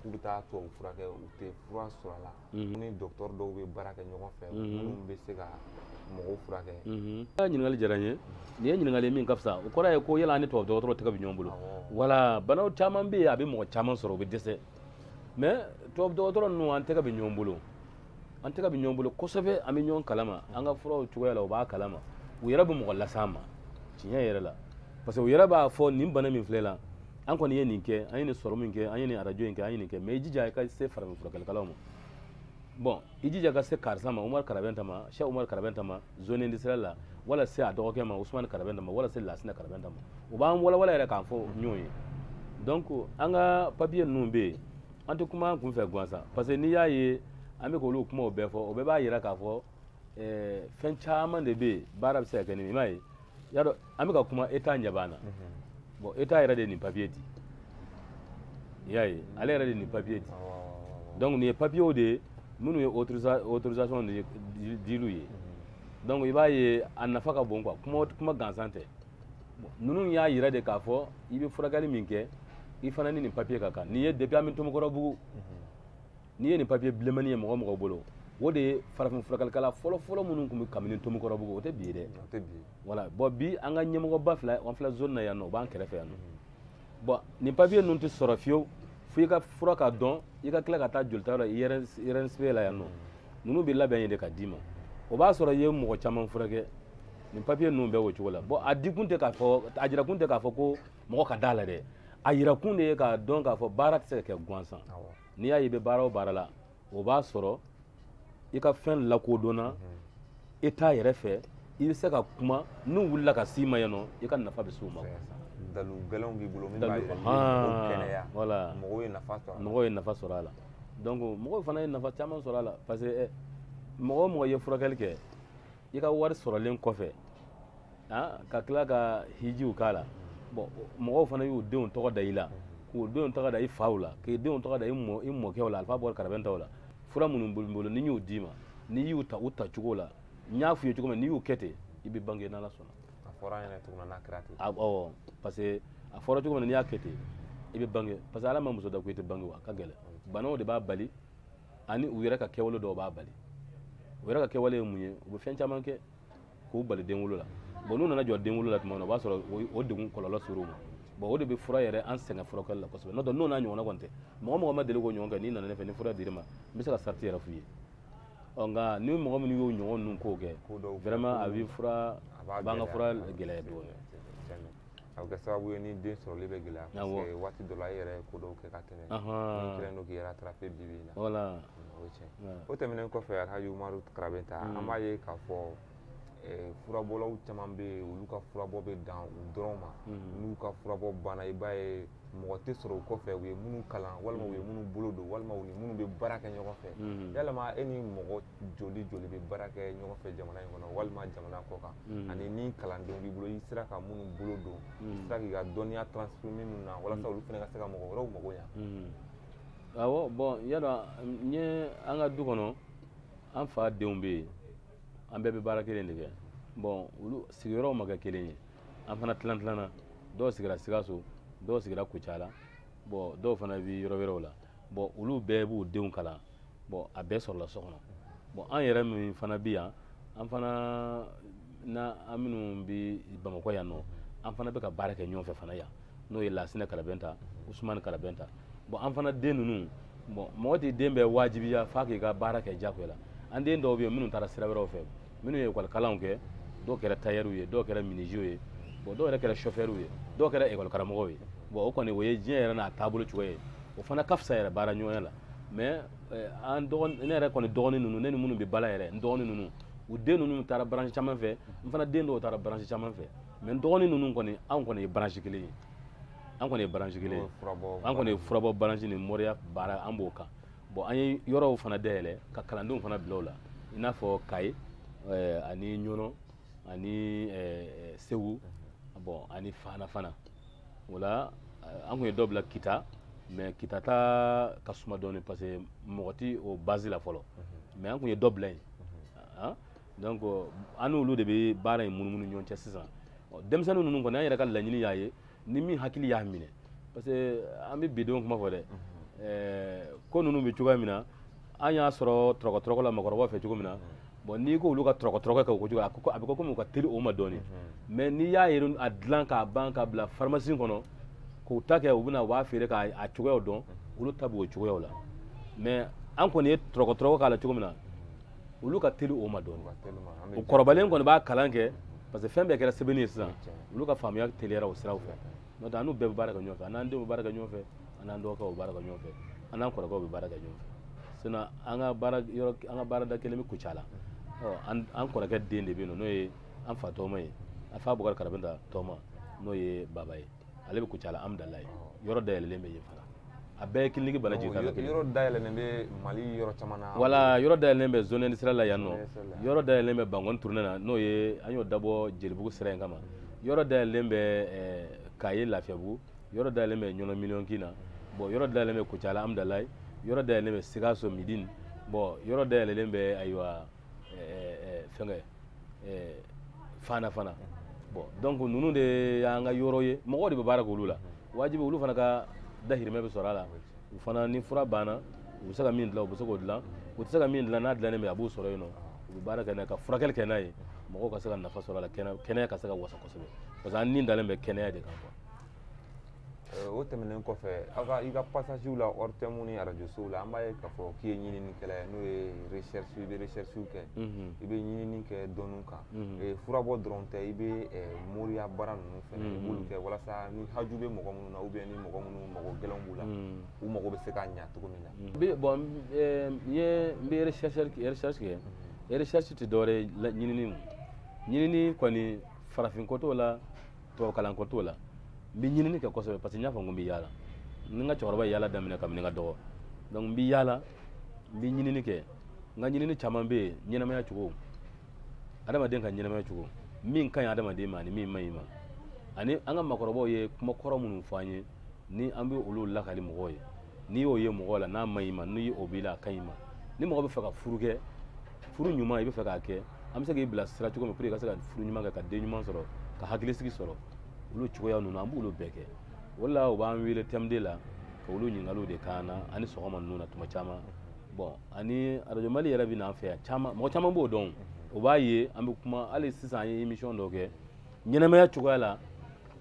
k'u bɛ taa tubabu fura kɛ u tɛ fura sɔrɔ a la ni dɔgɔtɔrɔ dɔw bɛ baara kɛ ɲɔgɔn fɛ minnu bɛ se ka mɔgɔw furakɛ i ka ɲininkali diyara n ye nin ye ɲininkali min ka fisa o kɔrɔ ye ko yala an ni tubabu dɔgɔtɔrɔ tɛgɛ bɛ ɲɔgɔn bolo wala bana caman bɛ yen a bɛ mɔgɔ caman sɔrɔ u bɛ dɛsɛ mais tubabu dɔgɔtɔrɔ ninnu an tɛgɛ bɛ ɲɔgɔn bolo an tɛgɛ bɛ ɲɔgɔn bolo kosɛbɛ an bɛ ɲɔgɔn kalama an ka furaw cogoya la u b'a kalama u yɛrɛ bɛ mɔgɔ las'an ma tiɲɛ yɛrɛ la parce que u yɛrɛ b'a fɔ nin bana min filɛ i la an kɔni ye nin kɛ an ye nin sɔrɔmu in kɛ an ye nin arajo in kɛ an ye nin kɛ mais i jija i ka se farafinfurakɛlikɛlaw ma bon i jija ka se karisa ma umar karabɛnta ma se umar karabɛnta ma zone industriel la wala se a dɔgɔkɛ ma usman karabɛnta ma wala se lasina karabɛnta ma o b'an walawala yɛrɛ k'an fɔ ɲɔgɔn ye donc an ka papiye ninnu bɛ yen an tɛ kuma an kun fɛ gansan parce que n'i y'a ye an bɛ k'olu kumaw bɛɛ fɔ o bɛɛ b'a jira k'a fɔ fɛn caman de bɛ yen baara bɛ se ka kɛ ni min ye i m'a ye y'a dɔn an bɛ ka kuma état ɲɛ b'an na bon état yɛrɛ de ye nin papiye di i y'a ye ale yɛrɛ de ye nin papiye di donc nin ye papiyew de ye minnu ye autorisation diliw ye donc i b'a ye a nafa ka bon quoi kuma kuma gansan tɛ ninnu y'a yira de k'a fɔ i bɛ furakɛli min kɛ i fana ni nin papiye ka kan nin ye depuis an bɛ tomikɔrɔbugu n'i ye nin papiye bilenmani ye mɔgɔ o mɔgɔ bolo o de ye farafin furakɛlikɛla fɔlɔfɔlɔ minnu tun bɛ kabini tomikɔrɔbugu o tɛ bi ye dɛ wala bɔn bi an ka ɲɛmɔgɔba fila an filɛ zone na yan nɔ o b'an kɛrɛfɛ yan nɔ mhm. bɔn nin papiye ninnu tɛ sɔrɔ fiyewu fo i ka fura ka dɔn i ka tila ka taa jolita yɔrɔ inrsp la yan nɔ mhm. ninnu bɛ labɛn yen de ka d'i ma o b'a sɔrɔ i ye mɔgɔ caman furakɛ nin papiye ninnu bɛɛ o cogo la bɔn a dikun tɛ k'a fɔ a jirakun tɛ k'a fɔ ko mɔgɔ ka d'a la dɛ a jirakun de ye k'a dɔn k'a fɔ baara tɛ se ka kɛ gansan n'i y'a ye i bɛ baara o baara la o b'a sɔrɔ i ka fɛn lakodɔnna état yɛrɛ fɛ i bɛ se ka kuma n'u wulila ka s'i ma yan nɔ i ka nafa bɛ s'u ma dalu gɛlɛnw b'i bolo min b'a yira mɔgɔw kɛnɛya wala mɔgɔw ye nafa sɔrɔ a la mɔgɔw ye nafa sɔrɔ a la donc mɔgɔw fana ye nafa caman sɔrɔ a la parce que mɔgɔ o mɔgɔ ye furakɛli kɛ i ka wari sɔrɔlen kɔfɛ ka tila ka hijiw k'a la bɔn mɔgɔw fana y'u denw tɔgɔ da i la k'u denw tɔgɔ da i faw la k'i denw tɔgɔ da i mɔkɛw la alifa bɔra karabɛntaw la fura minnu b'olu bolo ni y'u d'i ma n'i y'u ta u ta cogo la n y'a f'u ye cogo min n'i y'u kɛ ten i bɛ bange n'ala sɔnna a fɔra an yɛrɛ cogo min na n'a kɛra ten awɔ parce que a fɔra cogo min na n'i y'a kɛ ten i bɛ bange parce que ala ma muso da ko i tɛ bange wa a ka gɛlɛn banaw de b'a bali ani u yɛrɛ ka kɛwale dɔw b'a bali u yɛrɛ ka kɛwale ye mun ye u bɛ fɛn caman kɛ k'u bali denwolo la bon n'u nana jɔ denwolo la tuma min na o b'a sɔrɔ o degun kɔlɔlɔ sera u ma bon o de bɛ fura yɛrɛ an sɛgɛn furakɛli la kosɛbɛ n'o tɛ n'o n'a ɲɔgɔnna kɔni tɛ mɔgɔ mɔgɔ ma deli k'o ɲɔgɔn kɛ n'i nana ne fɛ ni fura dir'i ma n bɛ se ka sariti yɛrɛ f'u ye ɔ nka ni mɔgɔ minnu y'o ɲɔgɔn ninnu kow kɛ vraiment a bɛ fura a b'an ka fura gɛlɛya dɔɔnin a bɛ kɛ sababu ye ni den sɔrɔli bɛ gɛlɛya parce Awɔ. que waati dɔ la e yɛrɛ ye ko dɔw kɛ ka tɛmɛ Ahan. n'i kɛlen don k'i rattraper bi bi in na Voilà. Mm, o ye tiɲɛ ye. Voilà. o tɛmɛnen kɔfɛ Alhaji Umaru Karabɛnta Mm. an b'a ye k'a fɔ eh, furabɔlaw caman bɛ yen olu ka furabɔ bɛ dan u dɔrɔn ma Mhm. n'u ka furabɔ banna i b'a ye mɔgɔ tɛ sɔrɔ u kɔfɛ u ye minnu kalan walima u ye minnu bolo don walima u ni minnu bɛ baara kɛ ɲɔgɔn fɛ Mhm. yalama e ni mɔgɔ joli joli bɛ baara kɛ ɲɔgɔn fɛ jamana in kɔnɔ walima jamana kɔ kan mm. ani ni kalandenw b'i bolo i sera ka minnu bolo don i mm. sera k'i ka dɔnniya transformer minnu na walasa mm. olu fana ka se ka mɔgɔ wɛrɛw mago ɲa awɔ bɔn i y'a dɔn an ye an ka du kɔnɔ an fadenw bɛ yen an bɛɛ bɛ baara kelen de kɛ bɔn olu sigiyɔrɔw ma kɛ kelen ye an fana tilan tilanna dɔw sigira sikaso dɔw sigira kucala bɔn dɔw fana bɛ yɔrɔ wɛrɛw la bɔn olu bɛɛ b'u denw kalan bɔn a bɛɛ sɔrɔla so kɔnɔ bɔn an yɛrɛ min fana bɛ yan an fana na an minnu bɛ bamakɔ yan nɔ an fana bɛ ka baara kɛ ɲɔgɔn fɛ fana yan n'o ye lasinɛ karabɛnta usumani karabɛnta bɔn an fana den ninnu bɔn mɔgɔ t'i den bɛɛ wajibiya f'a k'i ka baara kɛ jagoya la an den dɔw bɛ yen minnu taara sira wɛrɛw fɛ minnu ye ekɔli kalanw kɛ dɔw kɛra tayɛriw ye dɔw kɛra miniziw ye bɔn dɔw yɛrɛ kɛra sɔfɛriw ye dɔw kɛra ekɔli karamɔgɔw ye bɔn o kɔni o ye diɲɛ yɛrɛ n'a taabolo cogoya ye o fana ka fisa yɛrɛ baara ɲɔgɔnya la mais eh, an dɔgɔnin ne yɛrɛ kɔni dɔgɔnin ninnu ne ni minnu bɛ ba la yɛrɛ n dɔgɔnin ninnu u den ninnu taara branche caman fɛ n fana den dɔw taara branche caman fɛ mais n dɔgɔnin ninnu kɔni anw kɔni ye branche kelen ye an kɔni ye branche kelen ye an kɔni ye furabɔ branche ni moriya baara an b'o kan bon an ye yɔrɔw fana dayɛlɛ ka kalandenw fana bila o la i n'a fɔ kayi eh, ani ɲɔnɔ ani eh, segu bon ani fana fana voilà eh, an kun ye dɔ bila kita mɛ kita ta ka suma dɔɔni parce que mɔgɔ ti o base la fɔlɔ mhm. mɛ an kun ye dɔ bila yen mhm. ah, donc an n'olu de bɛ baara in munumunu ɲɔgɔn cɛ sisan denmisɛnnin ninnu kɔni an yɛrɛ ka laɲini y'a ye ni min hakili y'a minɛ parce que an bɛ bi denw kuma fɔ dɛ mhm. eh, ko ninnu bɛ cogoya min na an y'a sɔrɔ tɔrɔkɔtɔrɔkɔ la makɔrɔbaw fɛ cogo min na bon n'i ko olu ka tɔrɔkɔtɔrɔkɔ kɛ o ko cogo a ko a bɛ ko komi u ka teli o ma dɔɔni mais n'i y'a ye a dilan k'a ban ka bila pharmacie kɔnɔ k'u ta kɛ u bɛna u b'a feere k'a a cogoyaw dɔn olu ta b'o cogoyaw la mais an kɔni ye tɔrɔkɔtɔrɔkɔ k'a la cogo min na olu ka teli o ma dɔɔni u kɔrɔbalen kɔni b'a kalan kɛ parce que fɛn bɛɛ kɛra sɛbɛnni ye sisan olu ka faamuya teliyara o siraw fɛ n'o tɛ an n'u bɛɛ bɛ baara kɛ ɲɔgɔn fɛ an n'an denw bɛ baara kɛ ɲɔgɔn fɛ an n'an dɔgɔkɛw bɛ baara kɛ ɲɔgɔn fɛ an n'an kɔrɔkɛw bɛ baara kɛ ɲɔgɔn fɛ sinon an ka baara yɔrɔ an ka baarada kelen bɛ Kucala ɔ an an kɔrɔkɛ den de bɛ yen nɔ n'o ye an fa tɔgɔma ye an fa Bukari Karabinta tɔgɔma n'o ye baba ye ale bɛ Kucala Amudalayi yɔrɔ dayɛlɛlen bɛ yen fana a bɛɛ ye kiliniki bana jigin kan kelen yɔrɔ dayɛlɛlen bɛ mali yɔrɔ caman na voilà yɔrɔ dayɛlɛlen bɛ zonɛni sira la yan nɔ yɔrɔ dayɛlɛlen bɛ bankɔni turunɛ na n'o ye an y'o dabɔ jelibugu sira in kama yɔrɔ dayɛlɛlen bɛ eh, kaye lafiyabugu yɔrɔ dayɛlɛlen bɛ ɲɔnɔ miliyɔnkin na bɔn yɔrɔ dayɛlɛlen bɛ kucala amidalayi yɔrɔ dayɛlɛlen bɛ sikaso medini bɔn yɔrɔ dayɛlɛlen bɛ ayiwa eh, eh, fɛnkɛ fana fana bɔn donc ninnu de y'an ka yɔrɔ ye mɔgɔw de bɛ baara k'olu la wajibi olu fana ka dahirimɛ bɛ sɔrɔ a la u fana ni fura banna u bɛ se ka min dilan u bɛ se k'o dilan u tɛ se ka min dilan n'a dilannen bɛ a b'o sɔrɔ yen nɔ u bɛ baara kɛ n'a ye ka furakɛli kɛ n'a ye mɔgɔw ka se ka nafa sɔrɔ a la kɛnɛya ka se ka wasa kosɛbɛ parce que an ni dalen bɛ kɛnɛya de kan quoi Eh, o tɛmɛnen kɔfɛ aw ka i ka pasasiw la ORTM ni arajosow la an b'a ye k'a fɔ k'i ye ɲininikɛla ye n'o ye recherche i bɛ recherche kɛ i bɛ ɲinini kɛ dɔnniw kan Mhm. furabɔ dɔrɔn tɛ i bɛ moriya baara ninnu fana i mhm. b'olu kɛ walasa ni haju bɛ mɔgɔ minnu na ou bien mɔgɔ minnu mago gɛlɛn b'u la mhm. u mago bɛ se ka ɲa cogo min na. bɔn n ye n bɛ recherche kɛ recherche tɛ dɔwɛrɛ ye ɲinini ɲinini kɔni farafin ko t'o la tubabukalan ko t'o la n bɛ ɲinini kɛ kosɛbɛ parce que n y'a fɔ n ko n bɛ yaala ni n ka cɛkɔrɔba ye yaala daminɛ kabini n ka dɔgɔ donc n bɛ yaala n bɛ ɲinini kɛ n ka ɲinini caman bɛ yen ɲɛnamaya cogo adamaden ka ɲɛnamaya cogo min ka ɲi adamaden ma ani min man ɲi a ma ani an ka makɔrɔbaw ye kuma kɔrɔ minnu fɔ an ye ni an bɛ olu lakali mɔgɔw ye n'i y'o ye mɔgɔ la n'a man ɲi ma ni o b'i la a ka ɲi i ma ni mɔgɔ bɛ fɛ ka furu kɛ furu ɲuman i bɛ fɛ k'a kɛ an bɛ se k'i bila sira cogo min pour que i ka se ka furu ɲuman kɛ ka den ɲuman sɔrɔ ka hakilisigi sɔrɔ olu cogoya ninnu an b'olu bɛɛ kɛ o de la u b'an wele TM2 la ka olu ɲininkaliw de k'an na ani sɔgɔma ninnu na tuma caman bɔn ani arajo mali yɛrɛ bɛ n'an fɛ yan caman mɔgɔ caman b'o dɔn o b'a ye an bɛ kuma hali sisan an ye emisiyɔn dɔ kɛ ɲɛnamaya cogoya la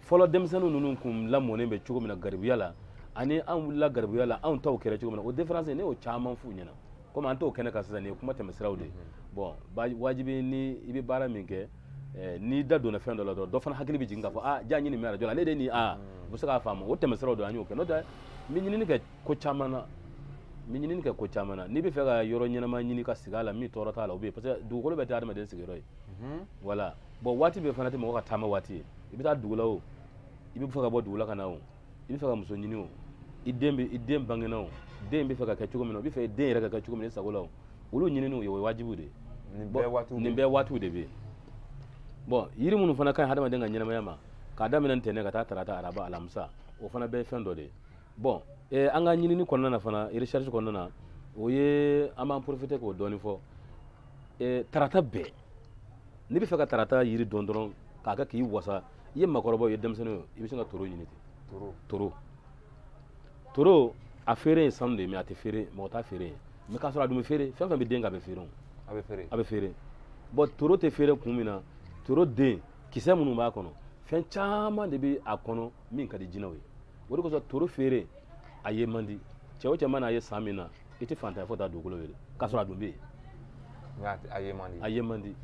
fɔlɔ denmisɛnnin ninnu kun lamɔnen bɛ cogo min na garibuya la ani an wulila garibuya la anw taw kɛra cogo min na o diferansi ne y'o caman f'u ɲɛna komi an t'o kɛnɛ kan sisan nin ye kuma tɛmɛsiraw de ye bɔn wajibi ni i bɛ baara min kɛ eh, n'i da donna fɛn dɔ la dɔrɔn dɔ fana hakili bɛ jigin k'a fɔ a ah, jaa ɲini min arajo la ne de nin a ah, u bɛ se k'a faamu o tɛmɛsiraw don an y'o kɛ n'o tɛ n bɛ ɲinini kɛ ko caman na ni ɲinini kɛ ko caman na n'i bɛ fɛ ka yɔrɔ ɲɛnama ɲini ka sigi a la min tɔɔrɔ t'a la o bɛ yen parce que dugukolo bɛɛ tɛ adamaden sigiyɔrɔ ye voilà bon waati bɛɛ fana tɛ mɔgɔ ka taama waati ye i bɛ taa dugu la o i bɛ fɛ ka bɔ dugu la ka na o i bɛ fɛ ka muso ɲini o i den bɛ i den bangena o den bɛ fɛ ka kɛ cogo min na o bɛ fɛ den yɛrɛ ka kɛ cogo min na i sago la o olu ɲininiw ye o ye wajibiw de ye nin bɛɛ waatiw nin bɛɛ waatiw de bɛ yen bon yiri minnu fana ka ɲi hadamaden ka ɲɛnamaya ma k'a daminɛ ntɛnɛ ka taa tarata araba alamisa o fana bɛɛ ye fɛn dɔ de ye bon eh, an ka ɲinini kɔnɔna na fana recherche kɔnɔna na o ye an b'an profite k'o dɔɔni fɔ eh, tarata bɛɛ n'i bɛ fɛ ka tarata yiri dɔn dɔrɔn k'a kɛ k'i wasa i ye makɔrɔbaw ye denmisɛnninw ye i bɛ sin ka toro ɲini ten toro toro a feere ye sanu de ye mais a tɛ feere mɔgɔ t'a feere ye mais k'a sɔrɔ a dun bɛ feere fɛn fɛn bɛ den kɛ a bɛ feere o a bɛ feere a bɛ feere bon toro tɛ feere kun min na toro den kisɛ minnu b'a kɔnɔ fɛn caman de bɛ a kɔnɔ min ka di jinɛw ye o de kosɔn toro feere a ye man di cɛ o cɛ mana a ye san min na i tɛ fantanya fo taa dugukolo wele k'a sɔrɔ a dun bɛ yen a ye man di a ye man di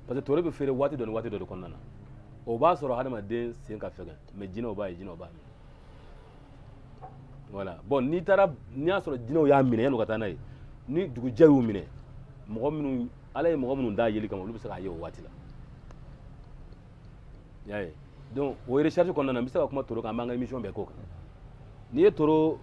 parce que toro bɛ feere waati dɔ ni waati dɔ de kɔnɔna na o b'a sɔrɔ hadamaden sen ka fɛgɛn mais jinɛw b'a ye jinɛw b'a minɛ voilà bon n'i taara n'i y'a sɔrɔ jinɛw y'a minɛ yanni u ka taa n'a ye ni dugujɛ y'u minɛ mɔgɔ minnu ala ye mɔgɔ minnu da yeli kama olu bɛ se k'a ye o waati la i y'a ye donc o recherche kɔnɔna na n bɛ se ka kuma toro kan an b'an ka émission bɛɛ k'o kan n'i ye toro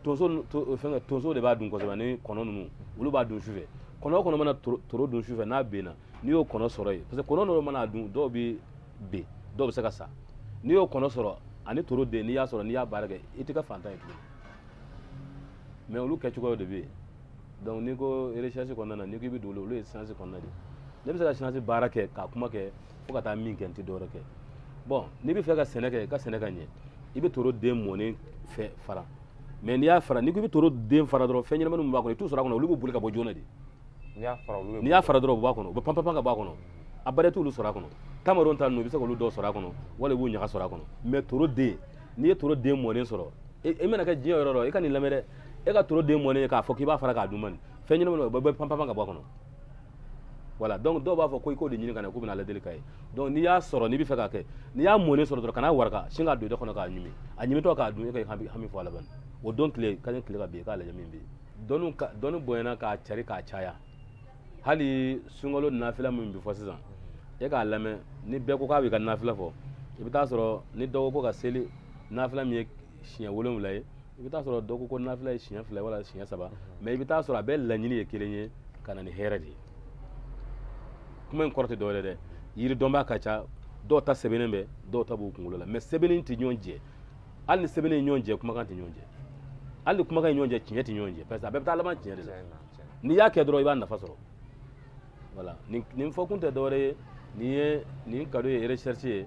tonso fɛngɛ tonso de b'a dun kosɛbɛ ani kɔnɔ ninnu olu b'a dun sufɛ kɔnɔ o kɔnɔ mana toro dun sufɛ n'a benna n'i y'o kɔnɔ sɔrɔ yen parce que kɔnɔ dɔw man'a dun dɔw bɛ ben dɔw bɛ se ka sa n'i y'o kɔnɔ sɔrɔ ani toro den n'i y'a sɔrɔ n'i y'a baara kɛ i tɛ kɛ fantan ye tuguni mais olu kɛcogoyaw de bɛ yen donc n'i ko recherche kɔnɔna na n'i ko i bɛ don olu ye science kɔnɔna de ye ne bɛ se ka science baara kɛ ka kuma kɛ fo ka taa min kɛ n tɛ dɔwɛrɛ kɛ bon n'i bɛ fɛ ka sɛnɛ kɛ ka sɛnɛ ka ɲɛ i bɛ toro den mɔnen fɛ fara mais n'i y'a fara n'i ko i bɛ toro den fara dɔrɔn fɛn ɲɛnamani min b'a kɔnɔ i t'u sɔrɔ a kɔnɔ olu bɛ boli ka bɔ joona de n'i y'a fara olu n'i y'a fara dɔrɔn u b'a kɔnɔ u bɛ panpan ka bɔ a kɔnɔ a bɛrɛ t'olu sɔrɔ a kɔnɔ tamaron ta ninnu i bɛ se k'olu dɔw sɔrɔ a kɔnɔ wala i b'u ɲaga sɔrɔ a kɔnɔ mais toro den n'i ye toro den mɔnen sɔrɔ e, e mana kɛ diɲɛ yɔrɔ yɔrɔ i ka nin lamɛn dɛ e ka toro den mɔnen k'a fɔ k'i b'a fara k'a dun mais fɛn ɲɛnamani o bɛɛ bɛ panpan ka bɔ a kɔnɔ voilà donc dɔw b'a fɔ ko i k'o de ɲini ka na k'u bɛna lajɛli k'a ye donc n'i y'a sɔrɔ n'i bɛ fɛ k'a kɛ n'i y'a mɔnen sɔrɔ dɔrɔn kan'a waraka sin k'a don da kɔnɔ k'a ɲimi a ɲimitɔ k'a dun e ka hami hami fɔ a laban o don tile ka ɲɛ tile ka bin i k'a lajɛ min bɛ yen dɔnni ka dɔnni bonyana ka cari ka caya hali sunkalo nafila min bɛ fɔ sisan e k'a lamɛn ni bɛɛ ko k'a b'i ka nafila fɔ i bɛ taa sɔrɔ ni dɔ ko ko ka seli nafila min ye siɲɛ wolonwula ye i bɛ taa sɔrɔ dɔ ko ko nafila ye siɲɛ fila ye wala siɲɛ saba mɛ i bɛ taa sɔrɔ a bɛɛ laɲini ye kelen ye ka na ni hɛrɛ de ye kuma in kɔrɔ tɛ dɔwɛrɛ dɛ yiri dɔnbaa ka ca dɔw ta sɛbɛnnen bɛ dɔw ta b'u kunkolo la mɛ sɛbɛnnen tɛ ɲɔgɔn jɛ hali ni sɛbɛnnen ye ɲɔgɔn jɛ kumakan tɛ ɲɔgɔn jɛ hali ni kumakan ye ɲɔgɔn jɛ tiɲɛ tɛ ɲɔgɔn jɛ parce que a bɛɛ bɛ taa laban tiɲɛ de la n'i y'a kɛ dɔrɔn i b'a nafa sɔrɔ wala nin fɔkun tɛ dɔwɛrɛ ye nin ye nin kado ye recherche ye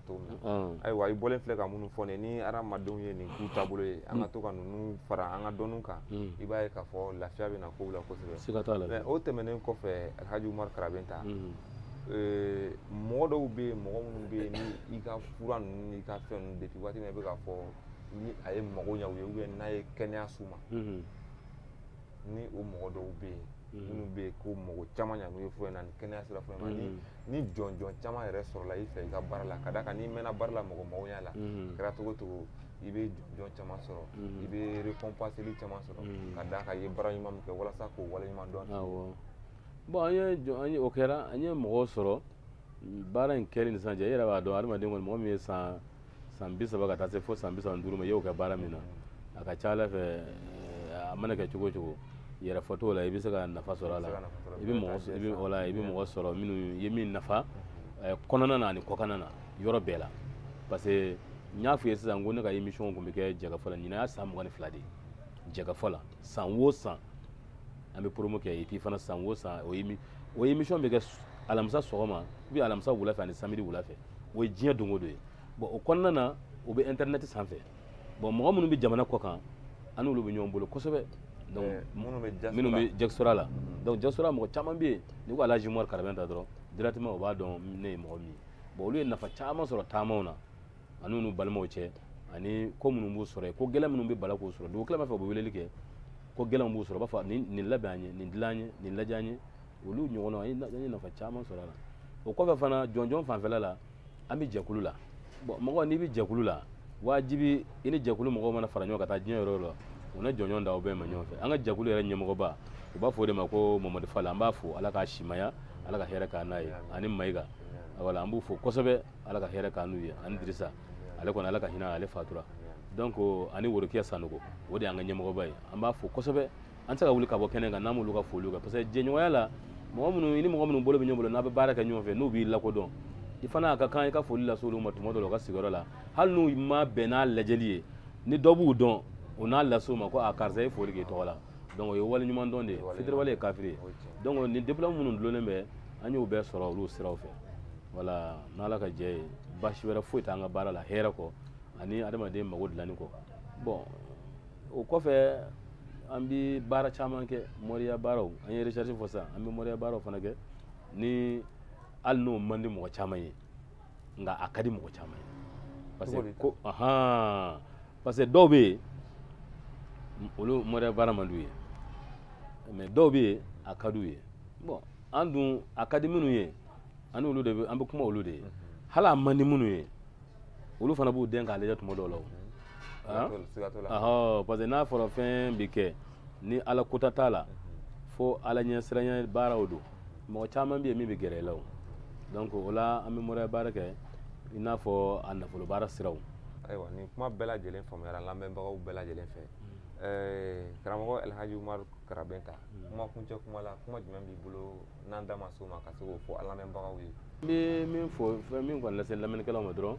to min na ayiwa i bɔlen filɛ ka minnu fɔ ne ni hadamadenw ye nin k'u taabolo ye an ka to ka ninnu fara an ka dɔnniw kan i b'a ye k'a fɔ lafiya bɛ na kow la kosɛbɛ mɛ o tɛmɛnen kɔfɛ alhaji umaru karabɛnta mɔgɔ dɔw bɛ yen mɔgɔ minnu bɛ yen ni i ka fura ninnu n'i ka fɛn ninnu depuis waati min i bɛ k'a fɔ ni a ye mago ɲɛ u ye n'a ye kɛnɛya s'u ma ni o mɔgɔ dɔw bɛ yen mm. minnu bɛ yen ko mɔgɔ caman ɲangu ye fɔ na ni kɛnɛya sira fɔ ma ni mm. ni jɔnjɔn caman yɛrɛ sɔrɔla i fɛ i ka baara la ka d'a kan n'i mɛnna baara la mɔgɔ mɔgɔnya la mm. kɛra cogo o cogo i bɛ jɔnjɔn caman sɔrɔ i bɛ récompense caman sɔrɔ ka d'a kan i ye baara ɲuman min kɛ walasa k'o waleɲuman dɔn bɔn an ye jɔn an ye o kɛra an ye mɔgɔw sɔrɔ baara in kɛli ni sisan cɛ i yɛrɛ b'a dɔn adamaden kɔni mɔgɔ min ye san san bi saba ka taa se fo san bi saba ni duuru ma i y'o kɛ baara min na a ka ca a la fɛ eh, a mana kɛ cogo o cogo yɛrɛfɔ t'o la i bɛ se ka nafa sɔrɔ a la i bɛ mɔgɔ i bɛ wala i bɛ mɔgɔ sɔrɔ minnu ye min nafa eh, kɔnɔna na ani kɔkanna na yɔrɔ bɛɛ la parce que n y'a f'i ye sisan ko ne ka émission tun bɛ kɛ jɛkafɔ la ɲinan y'a san mugan ni fila de ye jɛkafɔ la san o san an bɛ promo kɛ et puis fana san o san o ye o ye émission bɛ kɛ alamisa sɔgɔma ou bien alamisa wula fɛ ani samedi wula fɛ o ye diɲɛ don o don ye bɔn o kɔnɔna na o bɛ intɛrɛnɛti sanfɛ bɔn mɔgɔ minnu bɛ jamana kɔkan an n'olu bɛ ɲɔgɔn bolo kosɛbɛ donc eh, minnu bɛ diaspora la mm. donc diaspora mɔgɔ caman bɛ yen n'i ko alaji umaru karabɛnta dɔrɔn directement u b'a dɔn ne ye mɔgɔ min ye bɔn olu ye nafa caman sɔrɔ taamaw na ani n'u balimaw cɛ ani ko minnu b'u sɔrɔ yen ko gɛlɛn minnu bɛ bala k'u sɔrɔ dugu tilaba fɛ u bɛ weleli kɛ ko gɛlɛnw b'u sɔrɔ u b'a fɔ nin nin labɛn an ye nin dilan an ye nin lajɛ an ye olu ɲɔgɔnna an ye an ye nafa caman sɔrɔ a la o kɔfɛ fana jɔnjɔn fanfɛla la an bɛ jɛkulu la bɔn mɔgɔ n'i bɛ jɛkulu la wajibi i ni jɛkulu mɔgɔw mana fara ɲɔgɔn kan ka taa diɲɛ yɔrɔ o yɔrɔ u na jɔnjɔn di aw bɛɛ ma ɲɔgɔn fɛ an ka jɛkulu yɛrɛ ɲɛmɔgɔba u b'a fɔ o de ma ko mamadu fala an b'a fo ala k'a simaya ala ka hɛrɛ k'an n'a ye ani mayiga wala an b'u fo kosɛbɛ ala ka hɛrɛ k'an n'u ye ani dirisa ale kɔni ala ka hinɛ a la a fatura donc ani worokiya sanogo o de y'an ka ɲɛmɔgɔba ye an b'a fo kosɛbɛ an tɛ se ka wuli ka bɔ kɛnɛ kan n'an m'olu ka foliw kɛ parce que jɛɲɔgɔnya la mɔgɔ minnu i ni mɔgɔ minnu bolo bɛ ɲɔgɔn bolo n'a bɛ baara kɛ ɲɔgɔn fɛ n'u b'i lakodɔn i fana a ka kan i ka foli lase olu ma tuma dɔ la u ka sigiyɔrɔ la hali n'u ma bɛn n'a lajɛli ye ni dɔ b'u dɔn o n'a lase u ma ko a karisa ye foli k'i tɔgɔ la donc o ye waleɲumandɔn de ye fitiriwale ye kafiri ye donc nin diplôme minnu dulonnen bɛ an y'u bɛɛ sɔrɔ olu siraw fɛ wala n'ala ka jɛn ye baasi wɛrɛ foyi t'an ka baara la hɛrɛ kɔ ani adamaden mago dilanni kɔ bon o kɔfɛ an bi baara caman kɛ moriya baaraw an ye recherche fɔ sisan an bɛ moriya baaraw fana kɛ ni hali n'o man di mɔgɔ caman ye nka a ka di mɔgɔ caman ye parce que ko ahan parce que dɔw bɛ yen olu moriya baara man d'u ye mais dɔw bɛ yen a ka d'u ye bon an dun a ka di minnu ye an olu de an bɛ kuma olu de ye hali a man di minnu ye olu fana b'u dɛn k'a lajɛ tuma dɔw la o parce que n'a fɔra fɛn bɛ kɛ ni ala ko ta t'a la fo ala ɲɛsiran baaraw don mɔgɔ caman bɛ yen min bɛ gɛrɛ i la o donc o la an bɛ moriya baara kɛ i n'a fɔ a nafolo baara siraw ayiwa nin kuma bɛɛ lajɛlen faamuyara lamɛnbagaw bɛɛ lajɛlen fɛ karamɔgɔ alhaji umaru karabɛnta kuma kuncɛ kuma la kuma jumɛn b'i bolo n'an da ma s'o ma ka se k'o fɔ an lamɛnbagaw ye n bɛ min fɔ fɛn min kɔni lase lamɛnnikɛlaw ma dɔrɔn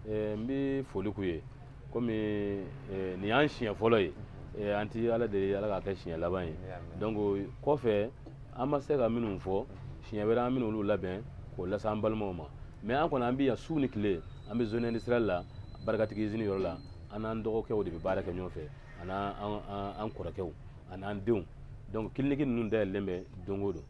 eh, n bɛ foli k'u ye komi eh, nin y'an siɲɛ fɔlɔ ye eh, an ti ala deli ala k'a kɛ siɲɛ laban ye donc kɔfɛ an ma se ka minnu fɔ siɲɛ wɛrɛ an min'olu labɛn k'o lase an balimaw ma mais an kɔni an bɛ yan su ni tile an bɛ zone industrielle la barikatigi izini yɔrɔ la an n'an dɔgɔkɛw de bɛ baara kɛ ɲɔgɔn fɛ an n'an kɔrɔkɛw an ni an denw donc kiliniki ninnu dayɛlɛlen bɛ don o don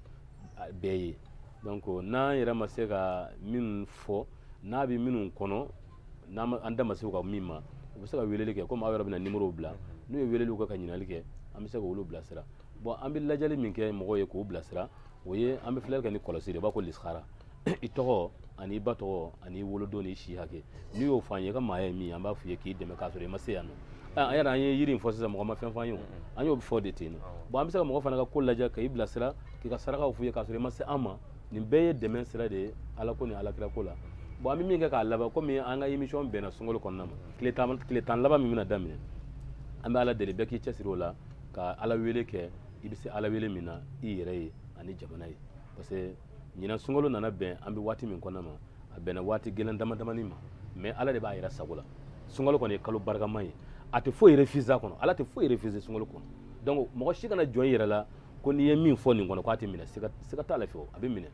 bɛɛ ye donc n'an yɛrɛ ma se ka minnu fɔ n'a bɛ minnu kɔnɔna an da ma se ka min ma u bɛ se ka weleli kɛ komi aw yɛrɛ bɛna nimorow bila n'u ye weleliw kɛ ka ɲininkali kɛ an bɛ se k'olu bilasira bon an bɛ lajɛli min kɛ mɔgɔw ye k'u bilasira o ye an bɛ filɛli kɛ ni kɔlɔsi de ye u b'a ko lisihara i tɔgɔ an'i ba tɔgɔ an'i wolodon n'i si hakɛ n'i y'o fɔ an ye i ka maaya ye min an b'a f'i ye k'i dɛmɛ k'a sɔrɔ i ma se yan nɔ an yɛrɛ an ye yiri in fɔ sisan mɔgɔ ma fɛn f'an ye o an y'o fɔ de ten bon an bɛ se ka mɔgɔ fana ka ko lajɛ ka i bilasira k'i ka sarakaw f'i ye k'a sɔrɔ i ma se an ma nin bɛɛ ye dɛmɛ sira de ye ala ko ni ala kira ko la bon an bɛ min kɛ k'a laban komi an ka émission bɛnna sunkalo kɔnɔna ma tile tan tile tan laban min bɛna daminɛ an bɛ ala deli bɛɛ k'i cɛsiri o la ka ala wele kɛ i bɛ se k'ala wele min na i yɛrɛ ye ani jamana ye parce que ɲinan sunkalo nana bɛn an bɛ waati min kɔnɔna ma a bɛnna waati gɛlɛn dama damani ma mais ala de b'a yɛrɛ sago la sunkalo kɔni ye kalo barikama ye a tɛ foyi refusé a kɔnɔ ala tɛ foyi refusé sunkalo kɔnɔ donc mɔgɔ si kana jɔn i yɛrɛ la ko n'i ye min fɔ nin kɔnɔ k'a tɛ minɛ siga t'a la fiyewu a bɛ minɛ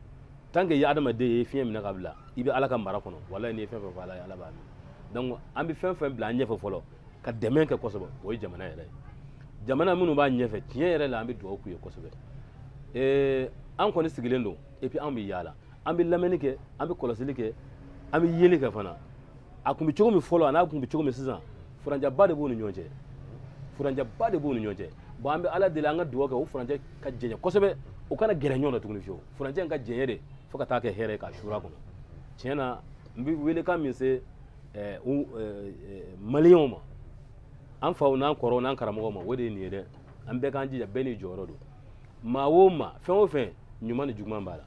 tant que i ye adamaden ye fiɲɛ minɛ k'a bila i bɛ ala ka mara kɔnɔ walayi n'i ye fɛn fɛn fɔ ala ye ala b'a minɛ donc an bɛ fɛn fɛn bila an ɲɛfɛ fɔlɔ ka dɛmɛ kɛ kosɛbɛ o ye jamana yɛrɛ ye jamana minnu b'a ɲɛfɛ tiɲɛ yɛrɛ la an bɛ dugawu k'u ye kosɛbɛ ee an kɔni sigilen don et puis an bɛ yaala an bɛ lamɛnni kɛ an bɛ kɔlɔsili kɛ an bɛ yeli kɛ fana a tun bɛ cogo min fɔlɔ a n'a tun bɛ cogo min sisan furancɛba de b'u ni ɲɔgɔn cɛ furancɛba de b'u ni ɲɔgɔn cɛ bon an bɛ ala deli an ka dugawu kɛ o furancɛ ka janya kosɛbɛ u kana gɛrɛ ɲɔgɔn na tuguni fiyewu furancɛ in ka janya de fo ka taa kɛ hɛrɛ ye k'a suura kɔnɔ tiɲɛ na n bɛ welekan min se eh, eh, maliyɛnw ma an faw n'an kɔrɔw n'an karamɔgɔw ma o de ye nin ye dɛ an bɛɛ k'an jija bɛɛ n'i jɔyɔrɔ don maa o maa fɛn o fɛn ɲuman ni juguman b'a la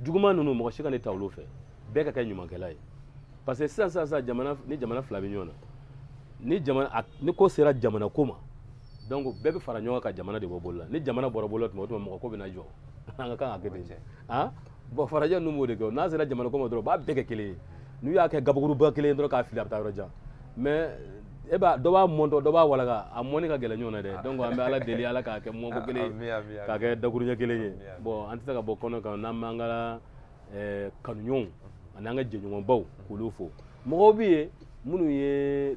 juguman ninnu mɔgɔ si kana taa olu fɛ bɛɛ ka kɛ ɲumankɛla ye parce que sisan sisan sisan jamana ni jamana fila bɛ ɲɔgɔn na ni jamana a ni ko sera jamana ko ma donc bɛɛ bɛ fara ɲɔgɔn kan ka jamana de bɔ bolo la ni jamana bɔra bolo la tuma o tuma mɔgɔ ko bɛ na jɔ an ka kan ka kɛ ten cɛ han bon farajɛ ninnu b'o de kɛ n'a sera jamana ko ma dɔrɔn u b'a bɛɛ kɛ kelen ye n'u y'a kɛ gabakuruba kelen dɔrɔn k'a fili a bɛ taa yɔrɔ jan mais e b'a dɔ b'a mɔntɔ dɔ b'a walaka a mɔni ka gɛlɛn ɲɔgɔn na dɛ ah. donc an bɛ ala deli ala k'a kɛ mɔnko kelen ye k'a kɛ dakuruɲɛ kelen ye bon an tɛ se ka bɔ kɛnɛ kan n'an m'an ka eh, kanuɲɔgɔnw ani an ka jɛɲɔgɔnbaw k'olu fo mɔgɔw bɛ yen minnu ye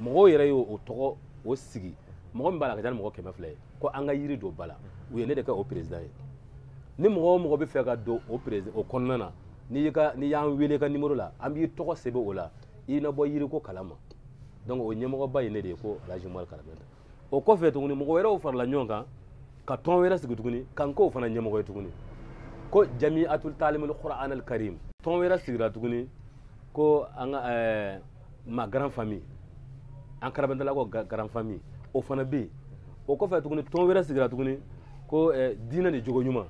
mɔgɔw yɛrɛ y'o tɔgɔ o sigi mɔgɔ min b'a la ka ca ni mɔgɔ kɛmɛ fila ye ko an ka yiri dɔn ba la u ye ne de kɛ o perezidan ye ni mɔgɔ o mɔgɔ bɛ fɛ ka don o perez o kɔnɔna na n'i ka n'i y'an wele ka nimoro la an b'i tɔgɔ sɛbɛn o la i na bɔ yiriko kalan ma donc o ɲɛmɔgɔba ye ne de ye ko alhaji umaru karabɛnta o kɔfɛ tuguni mɔgɔ wɛrɛw farala ɲɔgɔn kan ka tɔn wɛrɛ sigi tuguni ka n k'o fana ɲɛmɔgɔ ye tuguni ko jami atul talimul qur'an al karim tɔn wɛrɛ sigira tuguni ko an ka eh, ma grand famille an karabɛntala ko grand famille o fana bɛ yen o kɔfɛ tuguni tɔn wɛrɛ sigira tuguni ko eh, diinɛ ni jogo ɲuman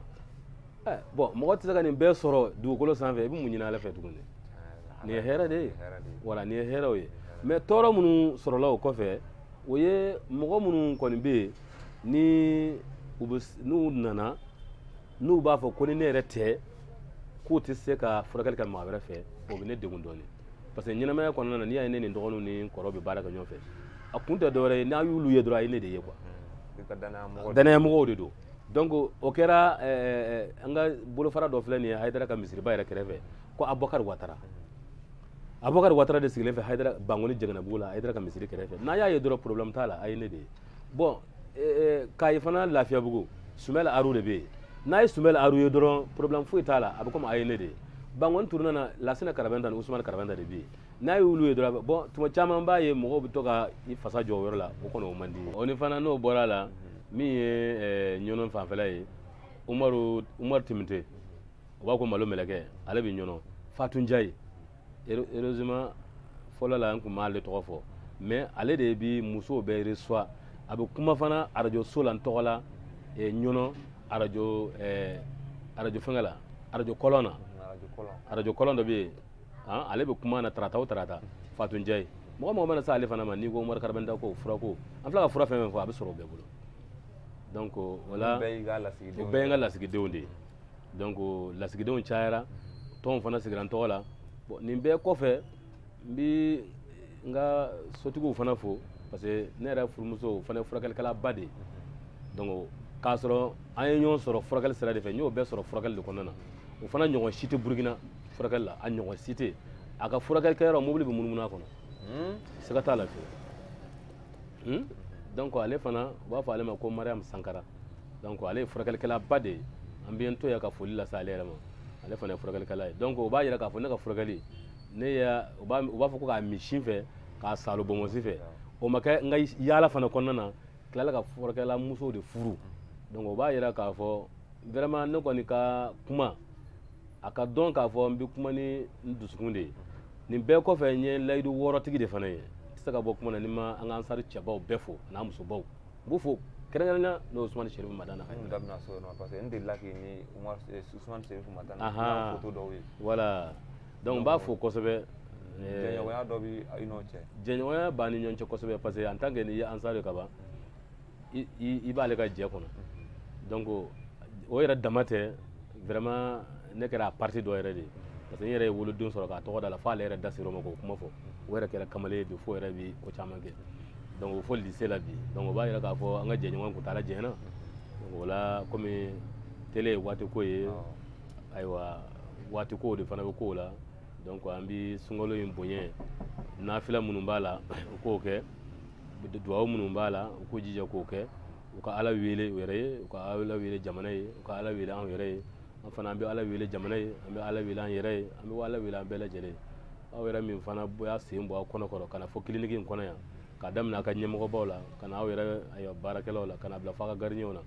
eh, bon mɔgɔ tɛ se ka nin bɛɛ sɔrɔ dugukolo sanfɛ i bɛ mun ɲini ala fɛ tuguni nin ye hɛrɛ de ye voilà nin ye hɛrɛw ye mais tɔɔrɔ minnu sɔrɔla o kɔfɛ o ye mɔgɔ minnu kɔni bɛ yen ni u bɛ n'u nana n'u b'a fɔ ko ni ne yɛrɛ tɛ k'u tɛ se ka furakɛli kɛ maa wɛrɛ fɛ o bɛ ne degun dɔɔnin parce que ɲɛnamaya kɔnɔna na n'i y'a ye ne ni dɔgɔninw ni kɔrɔ bɛ baara kɛ ɲɔgɔn fɛ a kun tɛ dɔwɛrɛ ye n'a y'olu ye dɔrɔn a ye ne de ye quoi hmm. danayamɔgɔw de don donc o kɛra eh, eh, eh, an ka bolofara dɔ filɛ nin ye hayidara ka misiriba yɛrɛ kɛrɛfɛ ko abubakari watara abubakar watara de sigilen bɛ hayidara bankoni janginɛbugu la hayidara ka misiri kɛrɛfɛ n'a y'a ye dɔrɔn problème t'a la a ye ne de ye bon eh, eh, kayi fana lafiyabugu sumɛl aru de bɛ yen n'a ye sumɛl aru ye dɔrɔn problème foyi t'a la a bɛ komi a ye ne de ye bankoni turuna na lasina karabɛnta ni usumani karabɛnta de bɛ yen n'a y'olu ye dɔrɔn bon tuma caman b'a ye mɔgɔw bɛ to ka i fasa jɔ o yɔrɔ la o kɔni o man di n ye o ni fana n'o bɔra a la min ye eh, ɲɔnɔn fanfɛla ye umaru umaru timite u b'a ko malo mɛlɛkɛ ale bɛ ɲɔnɔ fatu njaye heureusement fɔlɔ la n tun m'ale tɔgɔ fɔ mais ale de bi musow bɛɛ reçoit a bɛ kuma fana arajo so la n tɔgɔ la ɲɔnɔ arajo arajo fɛngɛ la arajo kɔlɔn na arajo kɔlɔn dɔ bɛ yen ale bɛ kuma na tarata o tarata fatu njaye mɔgɔ o mɔgɔ mana se ale fana ma n'i ko umaru karabɛnda ko furako an filɛ ka fura fɛn o fɛn fɔ a bɛ sɔrɔ o bɛɛ bolo donc o la o bɛɛ ye n ka lasigidenw de ye donc lasigidenw cayara tɔnw fana sigira n tɔgɔ la bon nin bɛɛ kɔfɛ n bi n ka sotigiw fana fo parce que ne yɛrɛ furumuso o fana ye furakɛlikɛlaba de ye donc k'a sɔrɔ an ye ɲɔgɔn sɔrɔ furakɛli sira de fɛ n y'o bɛɛ sɔrɔ furakɛli de kɔnɔna na o fana ɲɔgɔn si tɛ burukina furakɛli la a ɲɔgɔn si tɛ a ka furakɛli kɛyɔrɔ mobili bɛ munumunu a kɔnɔ hmm? siga t'a la fiyewu hmm? donc ale fana u b'a fɔ ale ma ko mariam sankara donc ale ye furakɛlikɛlaba de ye an bɛ n to yan ka foli lase ale yɛrɛ ma ale fana ye furakɛlikɛla ye donc o b'a yira k'a fɔ ne ka furakɛli ne y'a u b'a u b'a fɔ ko k'a min sin fɛ k'a saalo bonbonsi fɛ o ma kɛ n ka yaala fana kɔnɔna na n tilala ka furakɛla musow de furu donc o b'a yira k'a fɔ vraiment ne kɔni ka kuma a k'a dɔn k'a fɔ n bɛ kuma ni n dusukun de ye nin bɛɛ kɔfɛ n ye layidu wɔɔrɔtigi de fana ye n tɛ se ka bɔ kuma na ni n ma an ka ansari cɛbaw bɛɛ fo an'a musobaw n b'u fo kɛrɛnkɛrɛnnenya n'o Usumani Serifu Madana an yɛrɛ da bɛna s'o ma parce que n delila k'i ni Umaru eh, Usumani Serifu Madana Ahan. photo dɔw ye voilà donc n b'a fo kosɛbɛ eh, jɛɲɔgɔnya dɔ bɛ i n'o cɛ jɛɲɔgɔnya b'an ni ɲɔgɔn cɛ kosɛbɛ parce que en tant que n'i ye ansar ye ka ban i i- i b'ale ka jɛ kɔnɔ donc o yɛrɛ dama tɛ vraiment ne kɛra a partie dɔ yɛrɛ de ye parce que n yɛrɛ ye woloden sɔrɔ k'a tɔgɔ d'a la fo ale yɛrɛ da ser'o ma k'o kuma fɔ o yɛrɛ kɛra kamalen ye bi f'o yɛrɛ bi ko caman kɛ donc o bɛ fo lycée la bi donc o b'a yira k'a fɔ an ka jɛɲɔgɔnya kuntaala janyana donc o la komi tele ye waati ko ye ayiwa waati kow de fana bɛ kow la donc an bi sunkalo in bonya nafila minnu b'a la u k'o kɛ duwawu minnu b'a la u k'u jija k'o kɛ u ka ala wele u yɛrɛ ye u ka ala wele jamana ye u ka ala wele anw yɛrɛ ye an fana an bɛ ala wele jamana ye an bɛ ala wele an yɛrɛ ye an bɛ ala wele an bɛɛ lajɛlen aw yɛrɛ min fana y'a sen bɔ aw kɔnɔ kɔrɔ ka na fo kiliniki in kɔnɔ yan k'a daminɛ a ka ɲɛmɔgɔbaw la ka na aw yɛrɛ ayiwa baarakɛlaw la ka na bila fo a ka garidiɲɛw na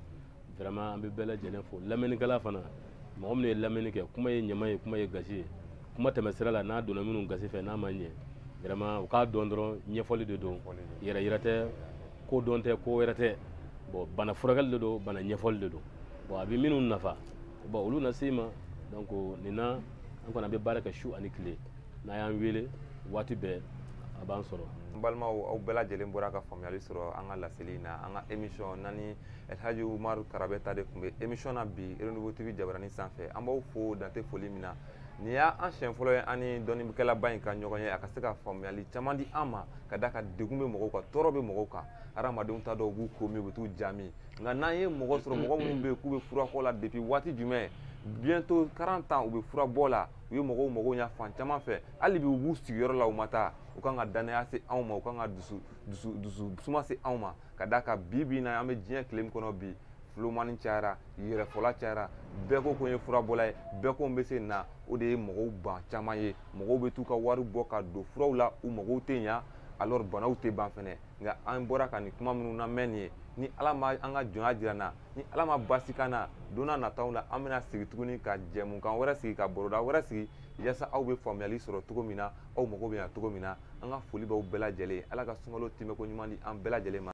vraiment an bɛ bɛɛ lajɛlen fo lamɛnnikɛla fana mɔgɔ minnu ye lamɛnni kɛ kuma ye ɲama ye kuma ye gasi ye kuma tɛmɛsira la n'a donna minnu gasi fɛ n'a ma ɲɛ vraiment u k'a dɔn dɔrɔn ɲɛfɔli de don yɛrɛyira tɛ kodɔn tɛ ko wɛrɛ tɛ bon bana furakɛli de don bana ɲɛfɔli de don bon a bɛ minnu nafa bon olu na se ma donc nin na an kɔni an bɛ baara kɛ su ani tile n'a y'an wele waati bɛɛ a b'an sɔrɔ n balimaw aw bɛɛ lajɛlen bɔra ka faamuyali sɔrɔ an ka laseli in na an ka émission na ni elhaji umaru karabɛnta de tun bɛ émission na bi renouveau tv jabarani sanfɛ an b'aw fo dan tɛ foli min na nin y'an siɲɛ fɔlɔ ye an ni dɔnnikɛlaba in ka ɲɔgɔn ye a ka se ka faamuyali caman di an ma ka d'a kan degun bɛ mɔgɔw kan tɔɔrɔ bɛ mɔgɔw kan hadamadenw t'a dɔn u b'u ko min u bɛ t'u ja min nka n'an ye mɔgɔ sɔrɔ mɔgɔ minnu bɛ yen k'u bɛ furabɔ la depuis waati jumɛn bientôt 40 ans u bɛ furabɔ la u ye mɔgɔw mago ɲa fan caman fɛ hali bi u b'u sigiyɔrɔ la u ma taa u kan ka dannaya se anw ma u kan ka dusu dusu dusu suma se anw ma ka d'a kan bi bi in na an bɛ diɲɛ tile min kɔnɔ bi fulomani cayara yɛrɛfɔla cayara bɛɛ ko ko n ye furabɔla ye bɛɛ ko n bɛ se na o de ye mɔgɔw ban caman ye mɔgɔw bɛ t'u ka wari bɔ ka don furaw la u magow tɛ ɲa alors banaw tɛ ban fɛnɛ nka an bɔra ka nin kuma minnu lamɛn nin ye ni ala ma an ka jɔnya jira an na ni ala ma basi k'an na don na nataw la an bɛna sigi tuguni ka jɛmukan wɛrɛ sigi ka baroda wɛrɛ sigi yaasa aw bɛ faamuyali sɔrɔ cogo min na aw mago bɛ ɲa cogo min na an ka foli b'aw bɛɛ lajɛlen ye ala ka sunkalo tɛmɛko ɲuman di an bɛɛ lajɛlen ma